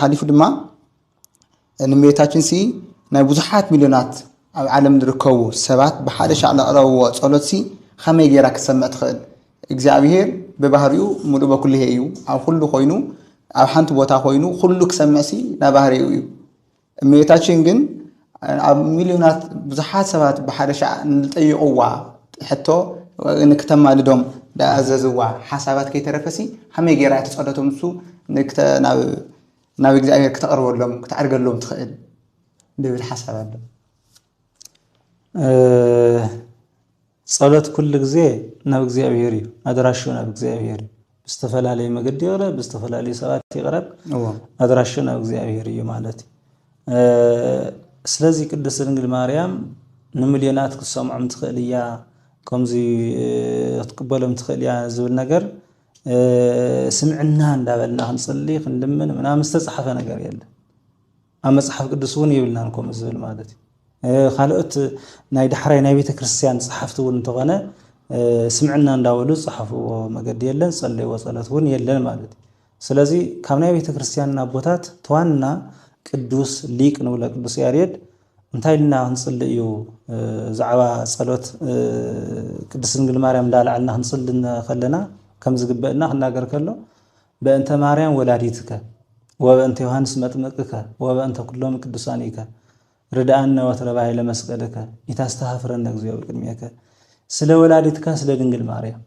ሓሊፉ ድማ ንእመቤታችን ሲ ናይ ብዙሓት ሚልዮናት ኣብ ዓለም ዝርከቡ ሰባት ብሓደ ሻዕ ዘቕረብዎ ጸሎት ሲ ኸመይ ጌራ ክትሰምዕ ትኽእል? እግዚኣብሔር ብባህሪኡ ምሉእ በኩልሄ እዩ። ኣብ ኹሉ ኮይኑ ኣብ ሓንቲ ቦታ ኮይኑ ኹሉ ክሰምዕ ሲ ናባህሪኡ እዩ። እመቤታችን ግን ኣብ ሚልዮናት ብዙሓት ሰባት ብሓደ ሻዕ ንዝጠየቕዋ ሕቶ ንክተማልዶም ዝኣዘዝዋ ሓሳባት ከይተረፈሲ ሃመይ ገይራ እቲ ጸሎቶም ንሱ ናብ እግዚኣብሔር ክተቕርበሎም ክተዕርገሎም ትኽእል ዝብል ሓሳብ ኣሎ። ጸሎት ኩሉ ግዜ ናብ እግዚኣብሔር እዩ ኣድራሹ ናብ እግዚኣብሔር እዩ ብዝተፈላለየ መገዲ ይቕረ ብዝተፈላለዩ ሰባት ይቕረብ ኣድራሹ ናብ እግዚኣብሔር እዩ ማለት እዩ ስለዚ ቅድስት ድንግል ማርያም ንምልዮናት ክትሰምዖም ትኽእል እያ ከምዚ ክትቅበሎም ትኽእል እያ ዝብል ነገር ስምዕና እንዳበልና ክንፅሊ ክንልምን ምናምን ዝተፃሓፈ ነገር የለን ኣብ መጽሓፍ ቅዱስ እውን የብልናን ከምኡ ዝብል ማለት እዩ። ካልኦት ናይ ዳሕራይ ናይ ቤተ ክርስቲያን ጸሓፍቲ እውን እንተኾነ ስምዕና እንዳበሉ ዝጸሓፍዎ መገዲ የለን፣ ዝጸለይዎ ጸሎት እውን የለን ማለት እዩ። ስለዚ ካብ ናይ ቤተ ክርስቲያን ኣቦታት ተዋና ቅዱስ ሊቅ ንብሎ ቅዱስ ያሬድ እንታይ ኢልና ክንጽሊ እዩ ዛዕባ ጸሎት ቅድስት ድንግል ማርያም እንዳልዓልና ክንጽሊ ከለና ከም ዝግበእና ክናገር ከሎ በእንተ ማርያም ወላዲትከ ወበእንተ ዮሐንስ መጥምቅከ ወበእንተ ኩሎም ቅዱሳኒከ ርድኣነ ወትረ ባይለ መስቀልከ ኢታስተሃፍረነ እግዚኦ በቅድሜከ ስለ ወላዲትካ ስለ ድንግል ማርያም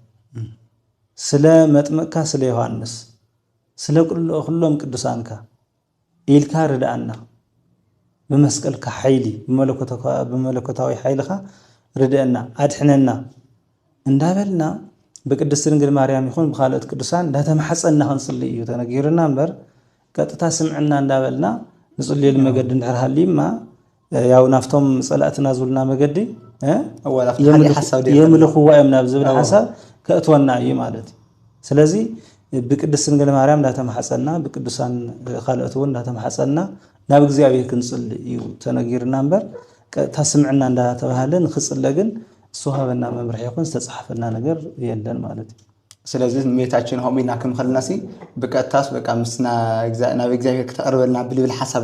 ስለ መጥምቅካ ስለ ዮሐንስ ስለ ኩሎም ቅዱሳንካ ኢልካ ርድኣና ብመስቀልካ ሓይሊ ብመለኮታዊ ሓይልኻ ርድኣና ኣድሕነና እንዳበልና ብቅድስት ድንግል ማርያም ይኹን ብካልኦት ቅዱሳን እንዳተማሕፀና ክንፅሊ እዩ ተነጊሩና እምበር ቀጥታ ስምዕና እንዳበልና ንፅልየሉ መገዲ እንድሕር ሃልዩማ ያው ናብቶም ፀላእትና ዝብሉና መገዲ የምልኽዋ እዮም ናብ ዝብል ሓሳብ ከእትወና እዩ ማለት እዩ ስለዚ ብቅድስት ድንግል ማርያም እንዳተማሓፀና ብቅዱሳን ካልኦት እውን እንዳተማሓፀና ናብ እግዚኣብሔር ክንፅል እዩ ተነጊርና እምበር ቀጥታ ስምዕና እንዳተባሃለ ንክፅለ ግን ዝተዋሃበና መምርሒ ይኹን ዝተፃሓፈና ነገር የለን ማለት እዩ ስለዚ ንሜታችን ሆም ኢልና ክንኸልና ሲ ብቀጥታስ በቃ ምስ ናብ እግዚኣብሔር ክተቅርበልና ብልብል ሓሳብ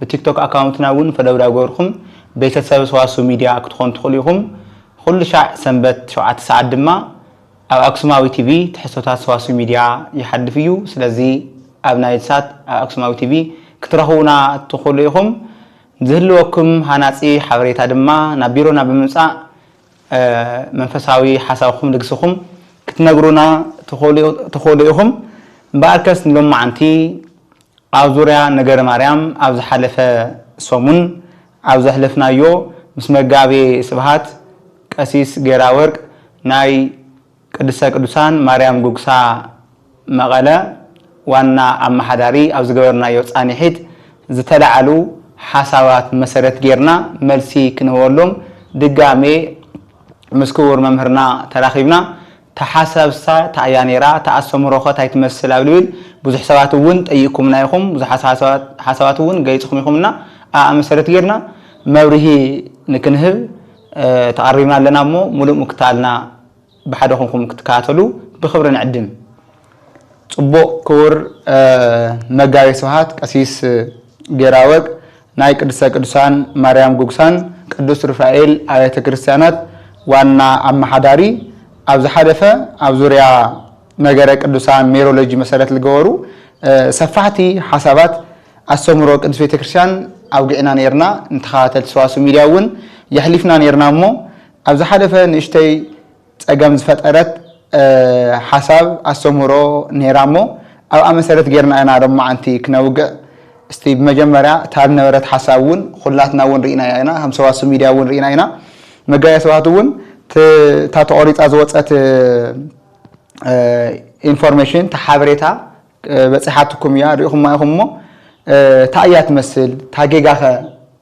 ብቲክቶክ ኣካውንትና እውን ፈለው ዳገበርኩም ቤተሰብ ሰዋስው ሚድያ ክትኾኑ ትኽእሉ ኢኹም። ኹሉሻዕ ሰንበት ሸውዓተ ሰዓት ድማ ኣብ ኣክሱማዊ ቲቪ ትሕዝቶታት ሰዋስው ሚድያ ይሓልፍ እዩ። ስለዚ ኣብ ናይልሳት ኣብ ኣክሱማዊ ቲቪ ክትረኽቡና ትኽእሉ ኢኹም። ዝህልወኩም ሃናጺ ሓበሬታ ድማ ናብ ቢሮና ብምምጻእ መንፈሳዊ ሓሳብኹም ልግስኹም ክትነግሩና ትኽእሉ ኢኹም። እምበኣርከስ ንሎማዓንቲ ኣብ ዙርያ ነገረ ማርያም ኣብ ዝሓለፈ ሰሙን ኣብ ዘሕለፍናዮ ምስ መጋቤ ስብሃት ቀሲስ ጌራወርቅ ናይ ቅድስተ ቅዱሳን ማርያም ጉግሳ መቐለ ዋና ኣማሓዳሪ ኣብ ዝገበርናዮ ፃኒሒት ዝተላዓሉ ሓሳባት መሰረት ገይርና መልሲ ክንህበሎም ድጋሜ ምስ ክቡር መምህርና ተራኺብና እታ ሓሳብሳ ታይ እያ ነይራ? እታ ኣስተምህሮኸ ታይ ትመስል? ኣብ ልብል ብዙሕ ሰባት እውን ጠይቅኩምና ኢኹም። ብዙሓት ሓሳባት እውን ገሊፅኹም ኢኹም እና ኣኣ መሰረት ገይርና መብርሂ ንክንህብ ተቐሪብና ኣለና እሞ ሙሉእ ምክትታልና ብሓደ ኮንኩም ክትከታተሉ ብኽብሪ ንዕድም። ጽቡቅ ክቡር መጋቤ ስብሐት ቀሲስ ጌራወግ ናይ ቅድስተ ቅዱሳን ማርያም ጉግሳን ቅዱስ ሩፋኤል ኣብያተ ክርስትያናት ዋና ኣማሓዳሪ ኣብ ዝሓለፈ ኣብ ዙርያ ነገረ ቅዱሳን ሜሮሎጂ መሰረት ልገበሩ ሰፋሕቲ ሓሳባት ኣስተምህሮ ቅድስት ቤተ ክርስትያን ኣውጊዕና ኔርና ንተኸታተልቲ ሰዋስው ሚድያ እውን የሕሊፍና ኔርና እሞ ኣብ ዝሓለፈ ንእሽተይ ጸገም ዝፈጠረት ሓሳብ ኣስተምህሮ ኔራ እሞ ኣብኣ መሰረት ጌርና ኢና ሎማዓንቲ ክነውግዕ እስቲ ብመጀመርያ እታ ዝነበረት ሓሳብ ውን ኹላትና ውን ሪኢናያ ኢና ከም ሰዋስው ሚድያ ውን ሪኢና ኢና መጋቤ ሰውሃት ውን እታ ተቆሪጻ ዝወጸት ኢንፎርሜሽን እታ ሓበሬታ በጺሓትኩም እያ ሪኢኹማ ኢኹም እሞ ታይ እያ ትመስል እታ ጌጋኸ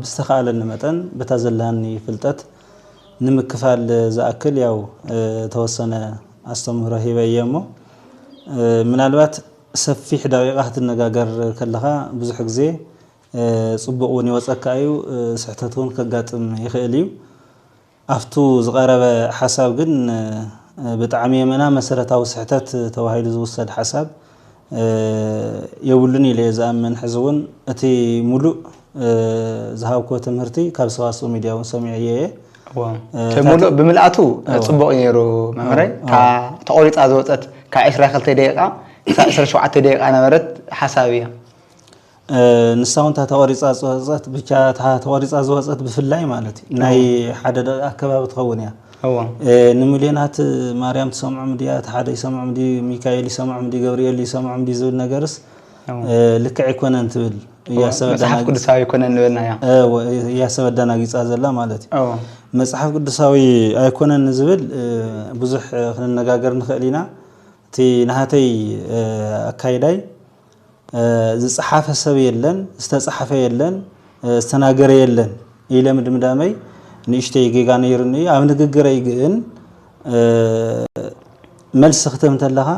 ብዝተኻኣለኒ መጠን በታ ዘላኒ ፍልጠት ንምክፋል ዝኣክል ያው ተወሰነ ኣስተምህሮ ሂበ እየ እሞ ምናልባት ሰፊሕ ደቂቃ ክትነጋገር ከለኻ ብዙሕ ግዜ ፅቡቅ እውን ይወፀካ እዩ ስሕተት እውን ከጋጥም ይኽእል እዩ። ኣፍቱ ዝቀረበ ሓሳብ ግን ብጣዕሚ የመና መሰረታዊ ስሕተት ተባሂሉ ዝውሰድ ሓሳብ የብሉን ኢለየ ዝኣምን ሕዚ እውን እቲ ሙሉእ ዝሃብክዎ ትምህርቲ ካብ ሰዋስው ሚድያ እውን ሰሚዐዮ እየ ሙሉእ ብምልኣቱ ፅቡቅ ነይሩ መምህረይ ተቆሪፃ ዝወፀት ካብ ዕስራ ክልተ ደቂቃ ክሳብ ዕስራ ሸውዓተ ደቂቃ ነበረት ሓሳብ እያ ንሳ ውን እታ ተቆሪፃ ዝወፀት ብቻ እታ ተቆሪፃ ዝወፀት ብፍላይ ማለት እዩ ናይ ሓደ ደቂ ኣከባቢ ትኸውን እያ ንምልዮናት ማርያም ትሰምዖም ድያ እቲ ሓደ ይሰምዖም ድዩ ሚካኤል ይሰምዖም ድዩ ገብርኤል ይሰምዖም ድዩ ዝብል ነገርስ ልክዕ ኣይኮነን ትብል መፅሓፍ ቅዱሳዊ ኣይኮነን ዝበልና እያ ሰብ ኣዳናጊፃ ዘላ ማለት እዩ መፅሓፍ ቅዱሳዊ ኣይኮነን ዝብል ብዙሕ ክንነጋገር ንኽእል ኢና እቲ ናሃተይ ኣካይዳይ ዝጸሓፈ ሰብ የለን፣ ዝተጻሕፈ የለን፣ ዝተናገረ የለን ኢለ ምድምዳመይ ንእሽተይ ጌጋ ነይሩኒ እዩ። ኣብ ንግግረይ ግን መልሲ ክትህብ እንተለኻ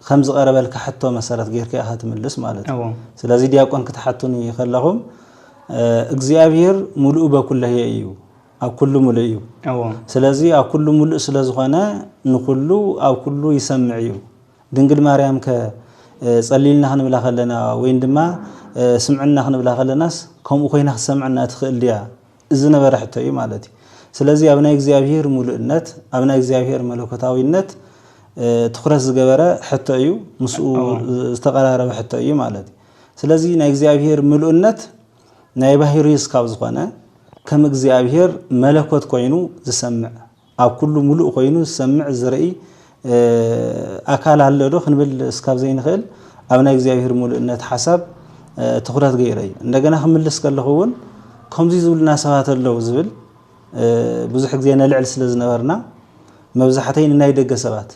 ከም ዝቐረበልካ ሕቶ መሰረት ጌርካ ኢኻ ትምልስ ማለት እዩ። ስለዚ ዲያቆን ክትሓቱኒ ከለኹም እግዚኣብሔር ሙሉእ በኩለየ እዩ ኣብ ኩሉ ሙሉእ እዩ። ስለዚ ኣብ ኩሉ ሙሉእ ስለዝኾነ ንኩሉ ኣብ ኩሉ ይሰምዕ እዩ። ድንግል ማርያም ከ ጸልዩልና ክንብላ ከለና ወይን ድማ ስምዕና ክንብላ ከለናስ ከምኡ ኮይና ክትሰምዐና ትኽእል ድያ ዝነበረ ሕቶ እዩ ማለት እዩ። ስለዚ ኣብ ናይ እግዚኣብሄር ሙሉእነት ኣብ ናይ እግዚኣብሄር መለኮታዊነት ትኹረት ዝገበረ ሕቶ እዩ፣ ምስኡ ዝተቀራረበ ሕቶ እዩ ማለት እዩ። ስለዚ ናይ እግዚኣብሄር ምሉእነት ናይ ባህሪ እስካብ ዝኾነ ከም እግዚኣብሄር መለኮት ኮይኑ ዝሰምዕ ኣብ ኩሉ ሙሉእ ኮይኑ ዝሰምዕ ዝርኢ ኣካል ኣሎ ዶ ክንብል እስካብ ዘይንክእል ኣብ ናይ እግዚኣብሔር ሙሉእነት ሓሳብ ትኩረት ገይረ እዩ እንደገና ክምልስ ከለኩ እውን ከምዙይ ዝብሉና ሰባት ኣለው ዝብል ብዙሕ ግዜ ነልዕል ስለ ዝነበርና መብዛሕተይ ንናይ ደገ ሰባት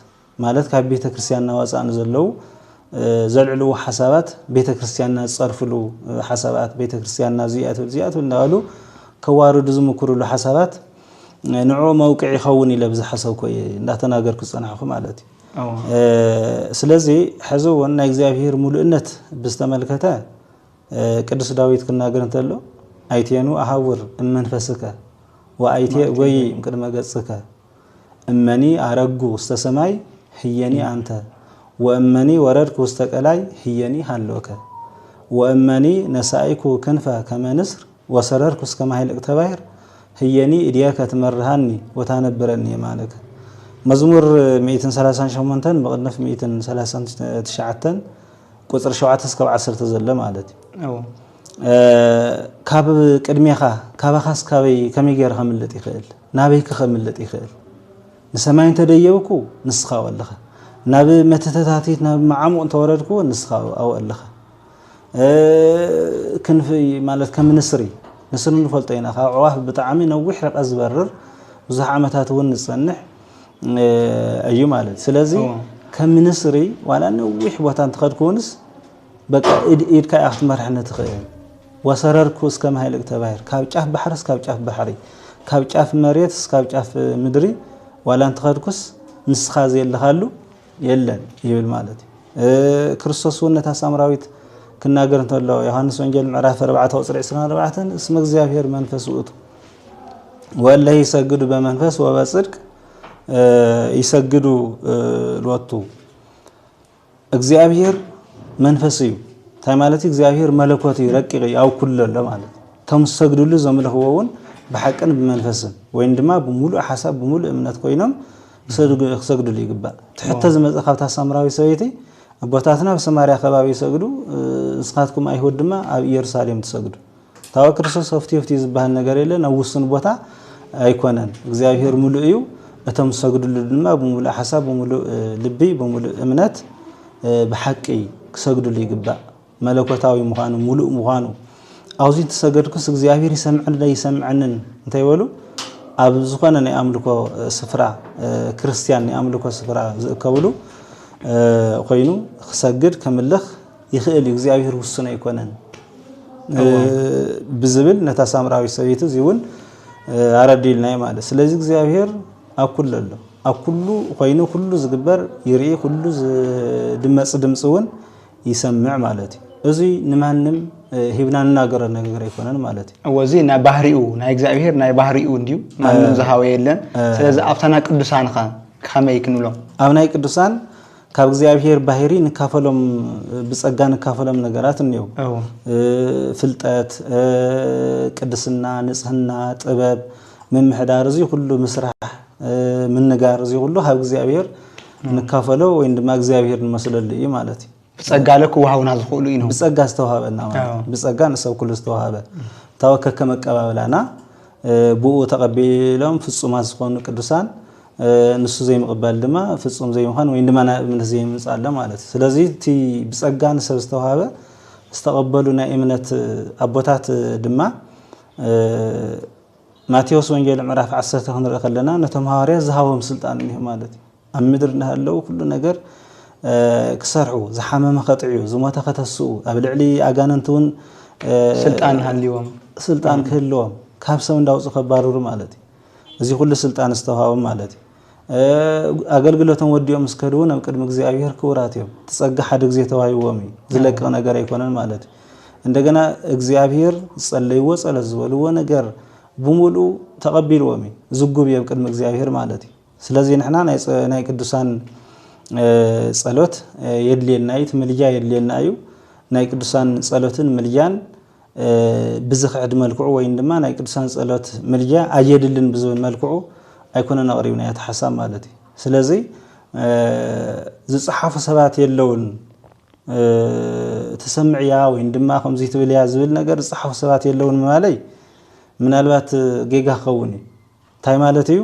ማለት ካብ ቤተ ክርስቲያንና ወፃእ ንዘለዉ ዘልዕልዎ ሓሳባት ቤተ ክርስቲያንና ዝፀርፍሉ ሓሳባት ቤተ ክርስቲያንና እዚኣ ትብል እዚኣ ትብል እንዳበሉ ከዋርዱ ዝምክርሉ ሓሳባት ንዕኡ መውቅዕ ይኸውን ኢለ ብዝሓሰብኮ እየ እንዳተናገርኩ ዝፀናሕኩ ማለት እዩ ስለዚ ሕዚ እውን ናይ እግዚኣብሄር ሙሉእነት ብዝተመልከተ ቅዱስ ዳዊት ክናገር እንተሎ ኣይቴኑ ኣሃውር እመንፈስከ ወኣይቴ እጎይ እምቅድመ ገጽከ እመኒ ኣረግኩ ውስተ ሰማይ ህየኒ ኣንተ ወእመኒ ወረድኩ ውስተ ቀላይ ህየኒ ሀሎከ ወእመኒ ነሣእኩ ክንፈ ከመ ንስር ወሰረርኩ እስከ ማኅልቅተ ባሕር ህየኒ እዴከ ትመርሃኒ ወታነብረኒ የማነከ መዝሙር ሚእትን ሰላሳን ሸሞንተን መቕድፍ ሚእትን ሰላሳን ትሽዓተን ቁፅሪ ሸውዓተ እስከብ ዓሰርተ ዘሎ ማለት እዩ ካብ ቅድሜኻ ካባኻስ ካበይ ከመይ ገይረ ከምልጥ ይኽእል ናበይከ ከምልጥ ይኽእል? ንሰማይ እንተ ደየብኩ፣ ንስኻ ኣብኡ ኣለኻ። ናብ መትተታቲት ናብ መዓሙቕ እንተ ወረድኩ፣ ንስኻ ኣብኡ ኣለኻ። ክንፊ ማለት ከም ንስሪ፣ ንስሪ ንፈልጦ ኢና፣ ካብ ኣዕዋፍ ብጣዕሚ ነዊሕ ርቀት ዝበርር ብዙሕ ዓመታት እውን ዝጸንሕ እዩ ማለት። ስለዚ ከም ንስሪ ዋላ ነዊሕ ቦታ እንተኸድኩ እውንስ በቃ ኢድ ኢድካ ኢያ ክትመርሐኒ ትኽእል ወሰረርኩ እስከ ማይል እግተባሂር ካብ ጫፍ ባሕሪ እስካብ ጫፍ ባሕሪ ካብ ጫፍ መሬት እስካብ ጫፍ ምድሪ ዋላ እንተኸድኩስ ንስኻ ዘየለኻሉ የለን ይብል ማለት እዩ ክርስቶስ እውን ነታ ሳምራዊት ክናገር እንተሎ ዮሃንስ ወንጌል ምዕራፍ 4 ቁፅሪ 24 እስመ እግዚኣብሔር መንፈስ ውእቱ ወለ ይሰግዱ በመንፈስ ወበጽድቅ ይሰግዱ ሎቱ እግዚኣብሔር መንፈስ እዩ እንታይ ማለት እዩ እግዚኣብሔር መለኮት እዩ ረቂቅ እዩ ኣብ ኩሉ ኣሎ ማለት እቶም ዝሰግድሉ ዘምልኽዎ እውን ብሓቅን ብመንፈስን ወይም ድማ ብምሉእ ሓሳብ ብምሉእ እምነት ኮይኖም ክሰግድሉ ይግባእ ትሕተ ዝመፀ ካብታ ሳምራዊ ሰበይቲ ኣቦታትና ኣብ ሰማርያ ከባቢ ይሰግዱ እስኻትኩም ኣይሁድ ድማ ኣብ ኢየሩሳሌም ትሰግዱ ፍትወ ክርስቶስ ሆፍትዮ ፍትዩ ዝበሃል ነገር የለን ኣብ ውሱን ቦታ ኣይኮነን እግዚኣብሔር ምሉእ እዩ እቶም ዝሰግድሉ ድማ ብምሉእ ሓሳብ ብምሉእ ልቢ ብምሉእ እምነት ብሓቂ ክሰግድሉ ይግባእ መለኮታዊ ምዃኑ ሙሉእ ምዃኑ ኣብዚ እንተሰገድኩስ እግዚኣብሔር ይሰምዕንዶ ይሰምዐንን እንታይ በሉ ኣብ ዝኾነ ናይ ኣምልኮ ስፍራ ክርስትያን ናይ ኣምልኮ ስፍራ ዝእከብሉ ኮይኑ ክሰግድ ከምልኽ ይኽእል እዩ እግዚኣብሔር ውሱን ኣይኮነን ብዝብል ነታ ሳምራዊ ሰበይቲ እዚ እውን ኣረዲልናዮ ማለት ስለዚ እግዚኣብሔር ኣብ ኩሉ ኣሎ ኣብ ኩሉ ኮይኑ ኩሉ ዝግበር ይርኢ ኩሉ ዝድመፅ ድምፂ እውን ይሰምዕ ማለት እዩ እዚ ንማንም ሂብና ንናገረ ነገር ኣይኮነን ማለት እዩ እዚ ናይ ባህሪኡ ናይ እግዚኣብሔር ናይ ባህሪኡ እንዲዩ ማንም ዝሃወ የለን ስለዚ ኣብታ ናይ ቅዱሳንካ ከመይ ክንብሎም ኣብ ናይ ቅዱሳን ካብ እግዚኣብሔር ባህሪ ንካፈሎም ብጸጋ ንካፈሎም ነገራት እኔው ፍልጠት ቅድስና ንጽህና ጥበብ ምምሕዳር እዚ ኩሉ ምስራሕ ምንጋር እዚ ኩሉ ካብ እግዚኣብሔር ንካፈሎ ወይ ድማ እግዚኣብሔር ንመስለሉ እዩ ማለት እዩ ብጸጋ ለ ክወሃቡና ዝኽእሉ እዩ ብጸጋ ዝተዋሃበና ማለት ብጸጋ ንሰብ ኩሉ ዝተዋሃበ እንታወ ከከመ ኣቀባብላና ብኡ ተቐቢሎም ፍጹማት ዝኾኑ ቅዱሳን ንሱ ዘይምቕበል ድማ ፍጹም ዘይምዃን ወይ ድማ ናብ እምነት ዘይምምጻእ ኣሎ ማለት እዩ። ስለዚ እቲ ብጸጋ ንሰብ ዝተዋህበ ዝተቐበሉ ናይ እምነት ኣቦታት ድማ ማቴዎስ ወንጌል ምዕራፍ 10 ክንርኢ ከለና ነቶም ሃዋርያት ዝሃቦም ስልጣን እኒሆ ማለት እዩ ኣብ ምድሪ እናሃለዉ ኩሉ ነገር ክሰርሑ ዝሓመመ ከጥዕዩ ዝሞተ ከተስኡ ኣብ ልዕሊ ኣጋንንቲ እውን ስልጣን ሃልዎም ስልጣን ክህልዎም ካብ ሰብ እንዳውፁ ከባርሩ ማለት እዩ እዚ ኩሉ ስልጣን ዝተውሃቦም ማለት እዩ። ኣገልግሎቶም ወዲኦም ምስ ከዱ እውን ኣብ ቅድሚ እግዚኣብሔር ክቡራት እዮም። እቲ ጸጋ ሓደ ግዜ ተዋሂብዎም እዩ፣ ዝለቅቕ ነገር ኣይኮነን ማለት እዩ። እንደገና እግዚኣብሔር ዝጸለይዎ ጸሎት ዝበልዎ ነገር ብምልኡ ተቐቢልዎም እዩ፣ ዝጉብ እዩ ኣብ ቅድሚ እግዚኣብሔር ማለት እዩ። ስለዚ ንሕና ናይ ቅዱሳን ጸሎት የድልየና እዩ፣ እቲ ምልጃ የድልየና እዩ። ናይ ቅዱሳን ጸሎትን ምልጃን ብዝኽዕድ መልክዑ ወይን ድማ ናይ ቅዱሳን ጸሎት ምልጃ ኣየድልን ብዝብል መልክዑ ኣይኮነን ኣቕሪብናዮ እቲ ሓሳብ ማለት እዩ ስለዚ ዝጸሓፉ ሰባት የለውን ትሰምዕ እያ ወይም ድማ ከምዚ ትብል እያ ዝብል ነገር ዝፀሓፉ ሰባት የለውን ማለይ ምናልባት ጌጋ ክኸውን እዩ እንታይ ማለት እዩ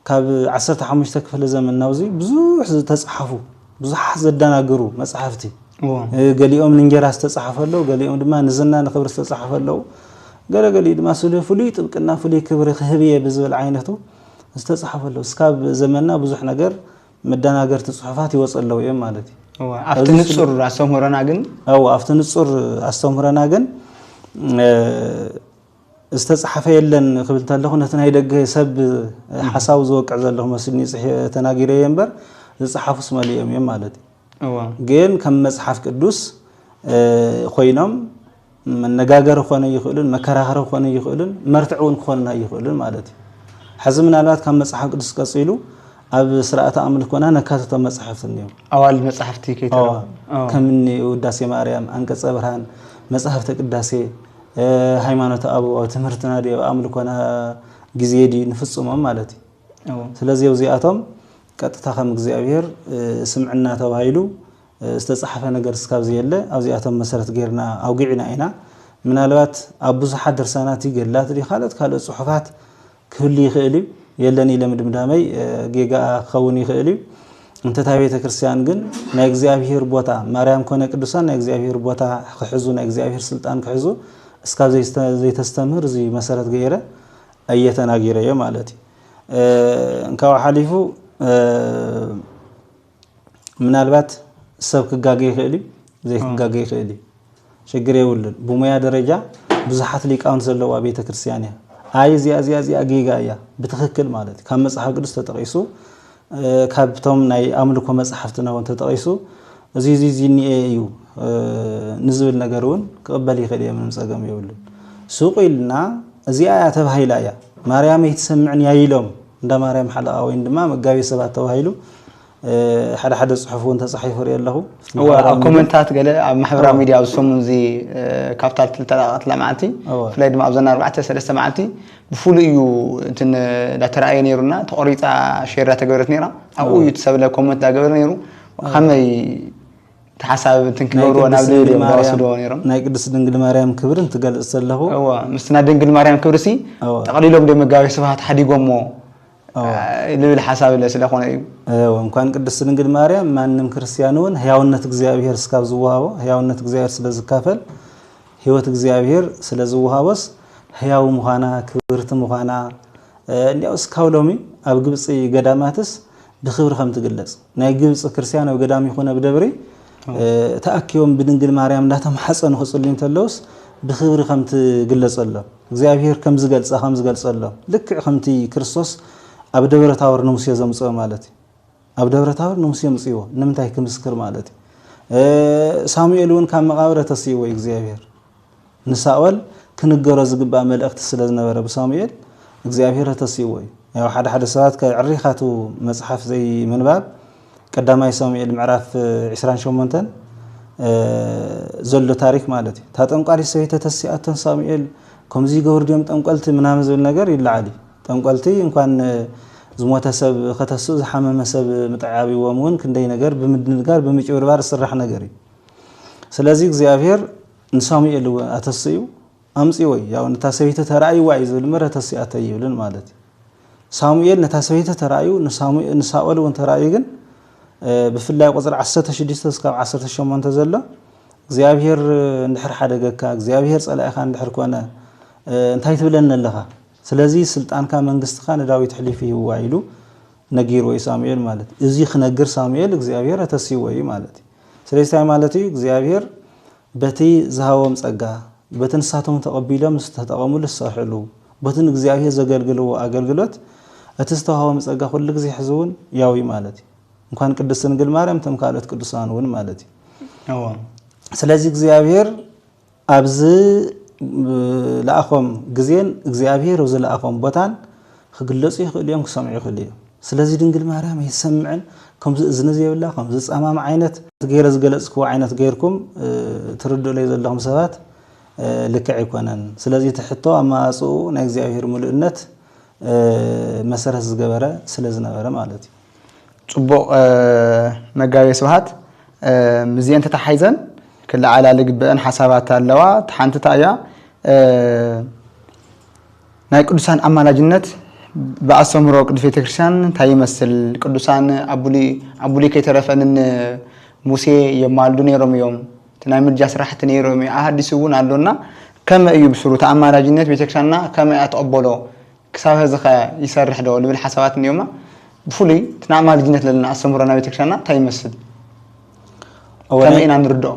ካብ ዓሰርተ ሓሙሽተ ክፍለ ዘመን ናብዚ ብዙሕ ዝተጻሓፉ ብዙሓት ዘዳናግሩ መጻሕፍቲ ገሊኦም ንእንጌራ ዝተጻሓፈ ኣለዉ፣ ገሊኦም ድማ ንዝና ንክብሪ ዝተጻሓፈ ኣለዉ፣ ገለ ገሊኡ ድማ ስለ ፍሉይ ጥብቅና ፍሉይ ክብሪ ክህብ እየ ብዝብል ዓይነቱ ዝተጻሓፈ ኣለዉ። እስካብ ዘመንና ብዙሕ ነገር መዳናገርቲ ጽሑፋት ይወጹ ኣለዉ እዮም ማለት እዩ። ኣብቲ ንጹር ኣስተምህሮና ግን ኣብቲ ንጹር ኣስተምህሮና ግን ዝተጻሕፈ የለን ክብል ተለኹ ነቲ ናይ ደገ ሰብ ሓሳቡ ዝወቅዕ ዘለኹ መስልኒ ተናጊረየ እምበር ዝጸሓፉስ መሊኦም እዮም ማለት እዩ ግን ከም መጽሓፍ ቅዱስ ኮይኖም መነጋገሪ ክኾነ ይኽእሉን መከራኸሪ ክኾነ ይኽእሉን መርትዕ እውን ክኾንና ይኽእሉን ማለት እዩ ሕዚ ምናልባት ካብ መጽሓፍ ቅዱስ ቀጺሉ ኣብ ስርዓተ ኣምልኮና ነካትቶም መጽሕፍቲ እኒኦም ኣዋል መጽሕፍቲ ከይተ ከምኒ ውዳሴ ማርያም፣ ኣንቀጸ ብርሃን፣ መጽሐፍተ ቅዳሴ ሃይማኖት ኣብ ትምህርትና ድዩ ኣብ ኣምልኮና ግዜ ድዩ ንፍጽሞም ማለት እዩ ስለዚ ኣብዚኣቶም ቀጥታ ከም እግዚኣብሔር ስምዕና ተባሂሉ ዝተጻሕፈ ነገር እስካብ ዘየለ ኣብዚኣቶም መሰረት ገይርና ኣውጊዕና ኢና ምናልባት ኣብ ብዙሓት ድርሳናት ገድላት ካልኦት ካልኦት ጽሑፋት ክህሉ ይኽእል እዩ። የለን ኢለ ምድምዳመይ ጌጋኣ ክኸውን ይኽእል እዩ። እንተ እታ ቤተ ክርስቲያን ግን ናይ እግዚኣብሔር ቦታ ማርያም ኮነ ቅዱሳን ናይ እግዚኣብሔር ቦታ ክሕዙ ናይ እግዚኣብሔር ስልጣን ክሕዙ እስካብ ዘይተስተምህር እዚ መሰረት ገይረ እየ ተናጊረዮ ማለት እዩ። እንካብ ሓሊፉ ምናልባት ሰብ ክጋገ ይኽእል እዩ፣ ዘይክጋገ ይኽእል እዩ፣ ሽግር የብሉን። ብሙያ ደረጃ ብዙሓት ሊቃውንት ዘለዋ ቤተ ክርስቲያን እያ። ኣይ እዚኣ እዚኣ እዚኣ ጌጋ እያ ብትኽክል ማለት ካብ መጽሓፍ ቅዱስ ተጠቒሱ ካብቶም ናይ ኣምልኮ መጽሓፍትና እውን ተጠቒሱ እዚ እዚ እዚ እኒኤ እዩ ንዝብል ነገር እውን ክቕበል ይኽእል እየ ምንም ጸገም የብሉን። ሱቕ ኢልና እዚኣ እያ ተባሂላ እያ ማርያም ኣይትሰምዕን እያ ኢሎም እንዳማርያም ሓለቓ ወይን ድማ መጋቤ ሰባት ተባሂሉ ሓደ ሓደ ጽሑፍ እውን ተጻሒፉ ሪኦ ኣለኹ። እወ ኣብ ኮመንታት ገለ ኣብ ማሕበራዊ ሚድያ ኣብዚ ሰሙን እዚ ካብታ ዝተለቐቐትላ መዓልቲ ብፍላይ ድማ ኣብዘን ኣርባዕተ ሰለስተ መዓልቲ ብፍሉይ እዩ እቲ እንዳተረኣየ ነይሩና ተቖሪፃ ሼር እንዳተገበረት ነይራ ኣብኡ እዩ እቲ ሰብለ ኮመንት እንዳገበረ ነይሩ ከመይ እቲ ሓሳብ እንትን ክገብርዎ ናብ ዝብል እዮም ዝወስድዎ ነይሮም። ናይ ቅድስት ድንግል ማርያም ክብሪ እንትገልጽ ዘለኹ። እወ ምስቲ ናይ ድንግል ማርያም ክብሪሲ ጠቕሊሎም ድዮም መጋቤ ስብሃት ሓዲጎሞ ዝብል ሓሳብ ስለኾነ እዩ። እወ እንኳን ቅድስት ድንግል ማርያም ማንም ክርስቲያን እውን ሕያውነት እግዚኣብሔር እስካብ ዝወሃቦ ሕያውነት እግዚኣብሔር ስለ ዝካፈል ሕይወት እግዚኣብሔር ስለ ዝወሃቦስ ሕያው ምዃና ክብርቲ ምዃና እንዲያው እስካብ ሎሚ ኣብ ግብጺ ገዳማትስ ብክብሪ ከም ትግለጽ ናይ ግብጺ ክርስቲያን ኣብ ገዳም ይኹን ኣብ ደብሪ ተኣኪቦም ብድንግል ማርያም እንዳተማሓጸኑ ክጽልዩ እንተለውስ ብክብሪ ከም ትግለጸሎም እግዚኣብሔር ከም ዝገልጻ ከም ዝገልጸሎም ልክዕ ከምቲ ክርስቶስ ኣብ ደብረ ታቦር ንሙሴ ዘምጽኦ ማለት እዩ ኣብ ደብረ ታቦር ንሙሴ ምጽዎ ንምንታይ ክምስክር ማለት እዩ ሳሙኤል እውን ካብ መቃብረ ተስይዎ እግዚኣብሔር ንሳኦል ክንገሮ ዝግባእ መልእኽቲ ስለ ዝነበረ ብሳሙኤል እግዚኣብሄር ኣተሲእዎ እዩ። ያው ሓደ ሓደ ሰባት ከ ዕሪኻ እቱ መፅሓፍ ዘይምንባብ ቀዳማይ ሳሙኤል ምዕራፍ ዕስራን ሸሞንተን ዘሎ ታሪክ ማለት እዩ። እታ ጠንቋሊት ሰበይቲ ተተሲኣቶ ንሳሙኤል ከምዚ ይገብሩ ድዮም ጠንቆልቲ ምናምን ዝብል ነገር ይለዓል እዩ። ጠንቆልቲ እንኳን ዝሞተ ሰብ ከተስኡ ዝሓመመ ሰብ ምጥዓብዎም እውን ክንደይ ነገር ብምድንጋር ብምጭብርባር ዝስራሕ ነገር እዩ። ስለዚ እግዚኣብሄር ንሳሙኤል እውን ኣተስእዩ ኣምጽእዎዩ ያው ነታ ሰበይቲ ተራእይዋ እዩ ዝብል ምረ ተስእያቶ ኣይብልን ማለት እዩ ሳሙኤል ነታ ሰበይቲ ተራእዩ ንሳኦል እውን ተራእዩ ግን ብፍላይ ቁፅሪ 16 ስካብ 18 ዘሎ እግዚኣብሄር እንድሕር ሓደገካ እግዚኣብሄር ፀላኢኻ እንድሕር ኮነ እንታይ ትብለኒ ኣለኻ ስለዚ ስልጣንካ መንግስትኻ ንዳዊት ሕሊፉ ይህዋ ኢሉ ነጊርዎ እዩ ሳሙኤል ማለት እዚ ክነግር ሳሙኤል እግዚኣብሔር ኣተሲዎ እዩ ማለት እዩ ስለዚ እንታይ ማለት እዩ እግዚኣብሔር በቲ ዝሃቦም ጸጋ በቲ ንሳቶም ተቐቢሎም ዝተጠቐምሉ ዝሰርሕሉ በቲ ንእግዚኣብሔር ዘገልግልዎ ኣገልግሎት እቲ ዝተዋህቦም ጸጋ ኩሉ ግዜ ሕዝውን ያው እዩ ማለት እዩ እንኳን ቅድስት ድንግል ማርያም እቶም ካልኦት ቅዱሳን እውን ማለት እዩ ስለዚ እግዚኣብሔር ኣብ ዝለኣኾም ግዜን እግዚኣብሔር ኣብ ዝለኣኾም ቦታን ክግለጹ ይኽእሉ እዮም ክሰምዑ ይኽእሉ እዮም ስለዚ ድንግል ማርያም ኣይትሰምዕን ከምዚ እዝኒ ዘይብላ ከምዚ ጻማም ዓይነት ገይረ ዝገለጽክዎ ዓይነት ገይርኩም ትርድኡለይ ዘለኹም ሰባት ልክዕ ኣይኮነን ስለዚ እቲ ሕቶ ኣመጻጽኡ ናይ እግዚኣብሔር ምሉእነት መሰረት ዝገበረ ስለ ዝነበረ ማለት እዩ። ጽቡቕ መጋቤ ስብሃት ምስዚኤን ተታሓሒዘን ክለዓላ ልግበኣን ሓሳባት ኣለዋ እታ ሓንቲ እታይ እያ ናይ ቅዱሳን ኣማላጅነት ብኣስተምህሮ ቅድስት ቤተክርስትያን እታይ ይመስል ቅዱሳን ኣብ ቡሉይ ከይተረፈ ን ሙሴ የማልዱ ነይሮም እዮም እቲ ናይ ምልጃ ስራሕቲ ነይሮም እዩ ኣሃዲሱ ውን ኣሎ እና ከመይ እዩ ብስሩ እቲ ኣማላጅነት ቤተክርስትያንና ከመይ እያ ትቕበሎ ክሳብ ሀዚኸ ይሰርሕ ዶ ልብል ሓሳባት እንዮማ? ብፍሉይ እቲ ንኣማልጅነት ለለና ኣስተምህሮ ናይ ቤተክርስቲያንና እንታይ ይመስል? ከመይ ኢና ንርድኦ?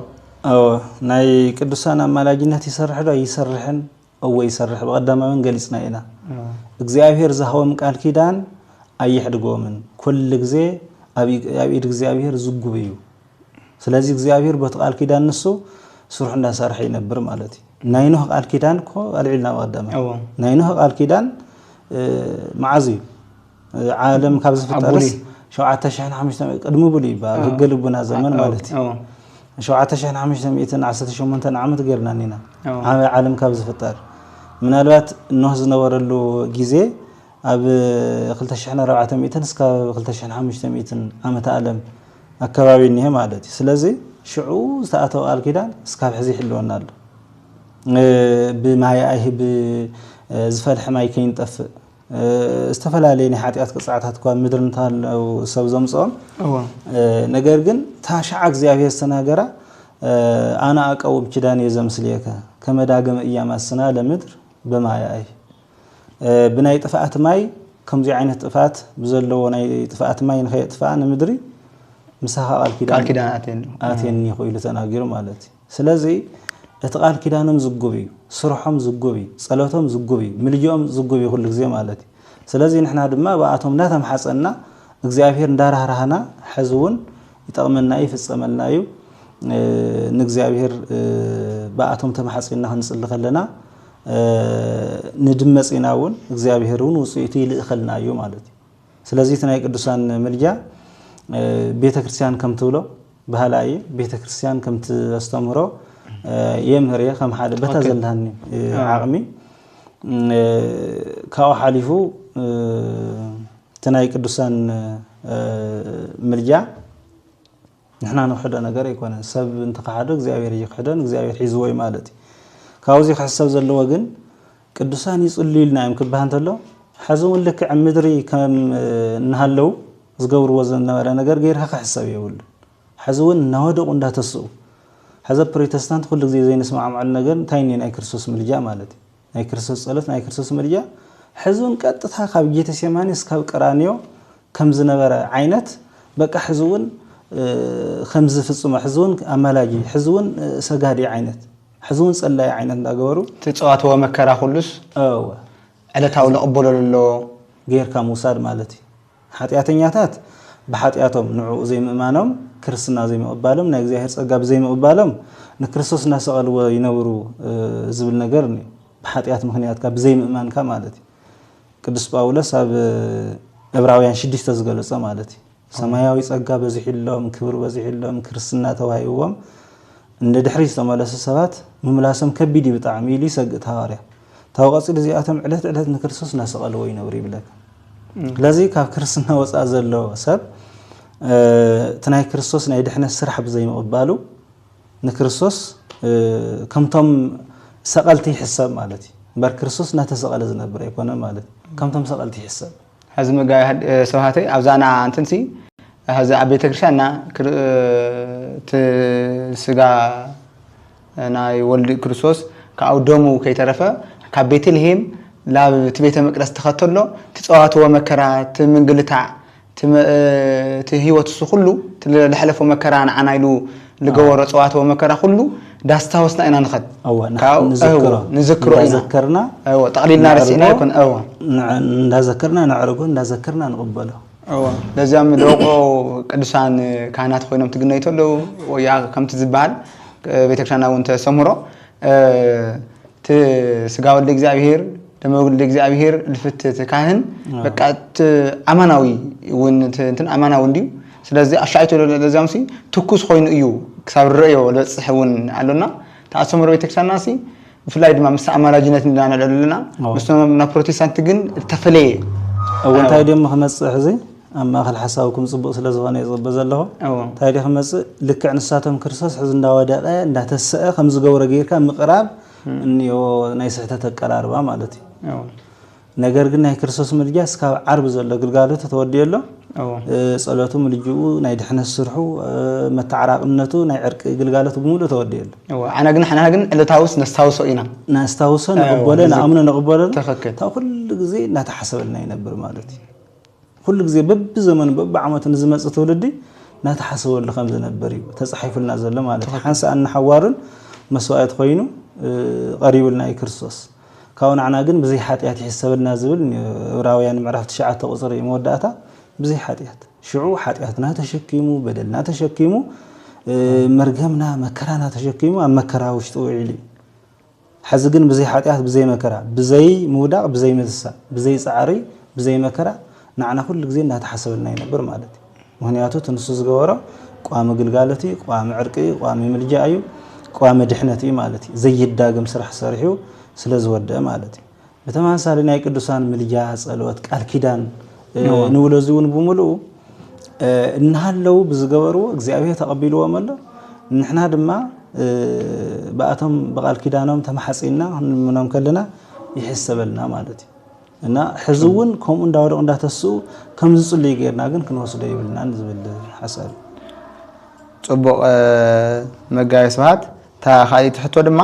እወ ናይ ቅዱሳን ኣማላጅነት ይሰርሕ ዶ ኣይሰርሕን? እወ ይሰርሕ ብቐዳማዊን ገሊጽና ኢና። እግዚኣብሔር ዝሃቦም ቃል ኪዳን ኣየሕድጎምን ኩሉ ግዜ ኣብ ኢድ እግዚኣብሔር ዝጉብ እዩ። ስለዚ እግዚኣብሄር በቲ ቃል ኪዳን ንሱ ስርሑ እንዳሰርሐ ይነብር ማለት እዩ። ናይ ኖህ ቃል ኪዳን እኮ ኣልዒልና ኣብ ኣዳመ ናይ ኖህ ቃል ኪዳን መዓዝ እዩ ዓለም ካብ ዝፍጠርስ ሸውዓተ ሽሕን ሓሙሽተ ቅድሚ ብሉ ይበሃል ህገ ልቡና ዘመን ማለት እዩ ሸውዓተ ሽሕን ሓሙሽተ ሚእትን ዓሰርተ ሸሞንተን ዓመት ገርና ኒና ዓበይ ዓለም ካብ ዝፍጠር ምናልባት ኖህ ዝነበረሉ ግዜ ኣብ ክልተ ሽሕን ኣርባዕተ ሚእትን እስካብ ክልተ ሽሕን ሓሙሽተ ሚእትን ዓመተ ኣለም ኣከባቢ እኒሀ ማለት እዩ። ስለዚ ሽዑ ዝተኣተወ ቃል ኪዳን እስካብ ሕዚ ይሕልወና ኣሎ። ብማይ ኣይሂ ብዝፈልሐ ማይ ከይንጠፍእ ዝተፈላለየ ናይ ሓጢኣት ቅፅዓታት እኳ ምድሪ እንተሃለው ሰብ ዘምፅኦም ነገር ግን እታ ሻዓ እግዚኣብሔር ዝተናገራ ኣነ ኣቀውም ኪዳን እየ ዘምስልየከ ከመዳግም እያማስና ለምድር ብማያይ ብናይ ጥፍኣት ማይ ከምዙይ ዓይነት ጥፍኣት ብዘለዎ ናይ ጥፍኣት ማይ ንኸየጥፍኣ ንምድሪ ምሳኻ ቃል ኪዳን ኣትየኒኹ ኢሉ ተናጊሩ ማለት እዩ ስለዚ እቲ ቃል ኪዳኖም ዝጉብ እዩ ስርሖም ዝጉብ እዩ ፀሎቶም ዝጉብ እዩ ምልጅኦም ዝጉብ እዩ ኩሉ ግዜ ማለት እዩ ስለዚ ንሕና ድማ ብኣቶም እንዳተምሓፀና እግዚኣብሄር እንዳራህራህና ሕዚ እውን ይጠቕመና እዩ ይፍፀመልና እዩ ንእግዚኣብሄር ብኣቶም ተማሓፂንና ክንፅሊ ከለና ንድመጺና ውን እግዚኣብሄር ውን ውጽኢቱ ይልእኸልና እዩ ማለት እዩ። ስለዚ እቲ ናይ ቅዱሳን ምልጃ ቤተ ክርስቲያን ከም ትብሎ ባህላ እየ ቤተ ክርስቲያን ከም ተስተምህሮ የምህር እየ ከም ሓደ በታ ዘለሃኒ ዓቕሚ ካብኡ ሓሊፉ እቲ ናይ ቅዱሳን ምልጃ ንሕና ንክሕዶ ነገር ኣይኮነን ሰብ እንተካሓዶ እግዚኣብሔር እይክሕዶን እግዚኣብሔር ሒዝዎ እዩ ማለት እዩ ካብዚ ክሕሰብ ዘለዎ ግን ቅዱሳን ይፅልዩ ኢልና እዮም ክበሃል እንተሎ ሕዚ እውን ልክዕ ምድሪ ከም እናሃለው ዝገብርዎ ዝነበረ ነገር ገይርካ ክሕሰብ የብሉን ሕዚ እውን እናወደቑ እንዳተስኡ ሕዚ ፕሮቴስታንት ኩሉ ግዜ ዘይንስማዕማዕሉ ነገር እንታይ እኒ ናይ ክርስቶስ ምልጃ ማለት እዩ ናይ ክርስቶስ ጸሎት ናይ ክርስቶስ ምልጃ ሕዝውን ቀጥታ ካብ ጌተሴማኒ እስካብ ቀራንዮ ከም ዝነበረ ዓይነት በቃ ሕዝውን ከምዚ ፍጽሞ ሕዝውን ኣማላጂ ሕዝውን ሰጋዲ ዓይነት ሕዝውን ጸላይ ዓይነት እንዳገበሩ ትጸዋትዎ መከራ ኩሉስ ዕለታዊ ንቕበሎ ለሎ ጌርካ ምውሳድ ማለት እዩ። ሓጢኣተኛታት ብሓጢኣቶም ንዕኡ ዘይምእማኖም፣ ክርስትና ዘይምቕባሎም፣ ናይ እግዚኣብሔር ጸጋ ብዘይምቕባሎም ንክርስቶስ እናሰቐልዎ ይነብሩ ዝብል ነገር እኒኦ። ብሓጢኣት ምክንያትካ ብዘይምእማንካ ማለት እዩ። ቅዱስ ጳውሎስ ኣብ ዕብራውያን ሽዱሽተ ዝገለጾ ማለት እዩ። ሰማያዊ ጸጋ በዚሑሎም፣ ክብሪ በዚሑሎም፣ ክርስትና ተዋሂብዎም ንድሕሪት ዝተመለሱ ሰባት ምምላሶም ከቢድ እዩ ብጣዕሚ ኢሉ ይሰግእ እቲ ሃዋርያ። ታው ቀጺሉ እዚኣቶም ዕለት ዕለት ንክርስቶስ እናሰቐልዎ ይነብሩ ይብለካ። ስለዚ ካብ ክርስትና ወጻኢ ዘሎ ሰብ እቲ ናይ ክርስቶስ ናይ ድሕነት ስራሕ ብዘይምቕባሉ ንክርስቶስ ከምቶም ሰቐልቲ ይሕሰብ ማለት እዩ እምበር ክርስቶስ እናተሰቐለ ዝነብር ኣይኮነን ማለት እዩ ከምቶም ሰቐልቲ ይሕሰብ ሀዚ መጋቢ ሰብሃተይ ኣብዛና እንትን ሲ ሀዚ ኣብ ቤተክርስትያን እና እቲ ስጋ ናይ ወልድ ክርስቶስ ከኣው ደሙ ከይተረፈ ካብ ቤተልሔም ላብ እቲ ቤተ መቅደስ ተኸተሎ ትፀዋትዎ መከራ እቲ ምንግልታዕ እቲ ህይወት እሱ ኩሉ ለሐለፎ መከራ ንዓና ኢሉ ልገበሮ ጸዋት ወመከራ ኩሉ ዳስታወስና ኢና ንኸድ እወ ንሓ- ንዝክሮ እወ፣ ንዝክሮ ኢና። እንዳዘከርና እወ፣ ጠቕሊልና ረሲዕና ነዕርቦ፣ ይኮን እወ ንዕ- እንዳዘከርና ነዕርቦ እንዳዘከርና ንቕበሎ እወ ለዚኦም ደቆ ቅዱሳን ካህናት ኮይኖም ትግነዩ ተለው ወያ ከምቲ ዝበሃል እ፣ ቤተክርስቲያንና እውን ተሰምሮ እ፣ እቲ ስጋ ወልደ እግዚኣብሔር ደመ ወልደ እግዚኣብሔር ልፍት እቲ ካህን በቃ እቲ ኣማናዊ እውን እቲ እንትን ኣማናዊ እንድዩ ስለዚ ኣሻኣይቶ ለዚኦምሲ ትኩስ ኮይኑ እዩ ክሳብ ንርእዮ ልበጽሕ እውን ኣሎና እታ ኣሰምሮ ቤተክርስትያንናሲ ብፍላይ ድማ ምስ ኣማላጅነት ንዳ ንዕለሉ ኣለና ምስቶም ናብ ፕሮቴስታንት ግን እተፈለየ እወ እንታይ ድዮም ክመጽእ ሕዚ ኣብ ማእኸል ሓሳብኩም ፅቡቅ ስለ ዝኾነ ይፅበ ዘለኹ እንታይ ደ ክመፅእ ልክዕ ንሳቶም ክርስቶስ ሕዚ እንዳወደቀ እንዳተሰአ ከም ዝገብሮ ጌርካ ምቅራብ እኒኦ ናይ ስሕተት ኣቀራርባ ማለት እዩ ነገር ግን ናይ ክርስቶስ ምልጃ እስካብ ዓርቢ ዘሎ ግልጋሎቱ ተወዲኡ ኣሎ ጸሎቱ ምልጅኡ ናይ ድሕነት ስርሑ መተዓራቕነቱ ናይ ዕርቂ ግልጋሎቱ ብምሉእ ተወዲኡ ኣሎ ኣነ ግን ሓና ግን ዕለታውስ ነስታውሶ ኢና ነስታውሶ ንቕበሎ ንኣምኖ ንቕበሎ ካብ ኩሉ ግዜ እናተሓሰበልና ይነብር ማለት እዩ ኩሉ ግዜ በብዘመኑ በብዓመቱ ንዝመጽእ ትውልዲ ናተሓሰበሉ ከም ዝነብር እዩ ተጻሒፉልና ዘሎ ማለት እዩ። ሓንሳእን ንሓዋሩን መስዋእቲ ኮይኑ ቐሪቡልና እዩ ክርስቶስ። ካብኡ ንዓና ግን ብዘይ ሓጢኣት ይሕሰበልና ዝብል ዕብራውያን ምዕራፍ ትሽዓተ ቁጽሪ መወዳእታ ብዘይ ሓጢኣት ሽዑ ሓጢኣትና ተሸኪሙ በደልና ተሸኪሙ መርገምና መከራና ተሸኪሙ ኣብ መከራ ውሽጢ ውዒሉ እዩ። ሐዚ ግን ብዘይ ሓጢኣት ብዘይ መከራ ብዘይ ምውዳቕ ብዘይ ምትሳእ ብዘይ ጻዕሪ ብዘይ መከራ ናዕና ኩሉ ግዜ እናተሓሰበልና ይነብር ማለት እዩ ምክንያቱ እቲ ንሱ ዝገበሮ ቋሚ ግልጋሎት እዩ ቋሚ ዕርቂ እዩ ቋሚ ምልጃ እዩ ቋሚ ድሕነት እዩ ማለት እዩ ዘይዳግም ስራሕ ሰሪሑ ስለ ዝወደአ ማለት እዩ ብተመሳሳሊ ናይ ቅዱሳን ምልጃ፣ ጸሎት፣ ቃል ኪዳን ንብሎ እዚ እውን ብምልኡ እናሃለዉ ብዝገበርዎ እግዚኣብሔር ተቐቢልዎም ኣሎ። ንሕና ድማ ብኣቶም ብቃል ኪዳኖም ተማሓጺንና ክንልምኖም ከለና ይሕሰበልና ማለት እዩ። እና ሕዚ እውን ከምኡ እንዳወደቑ እንዳተስኡ ከም ዝጽልዩ ጌርና ግን ክንወስዶ ይብልናን ዝብል ሓሳብ ጽቡቕ መጋቢ ስብሃት እታ ካልኣይቲ ሕቶ ድማ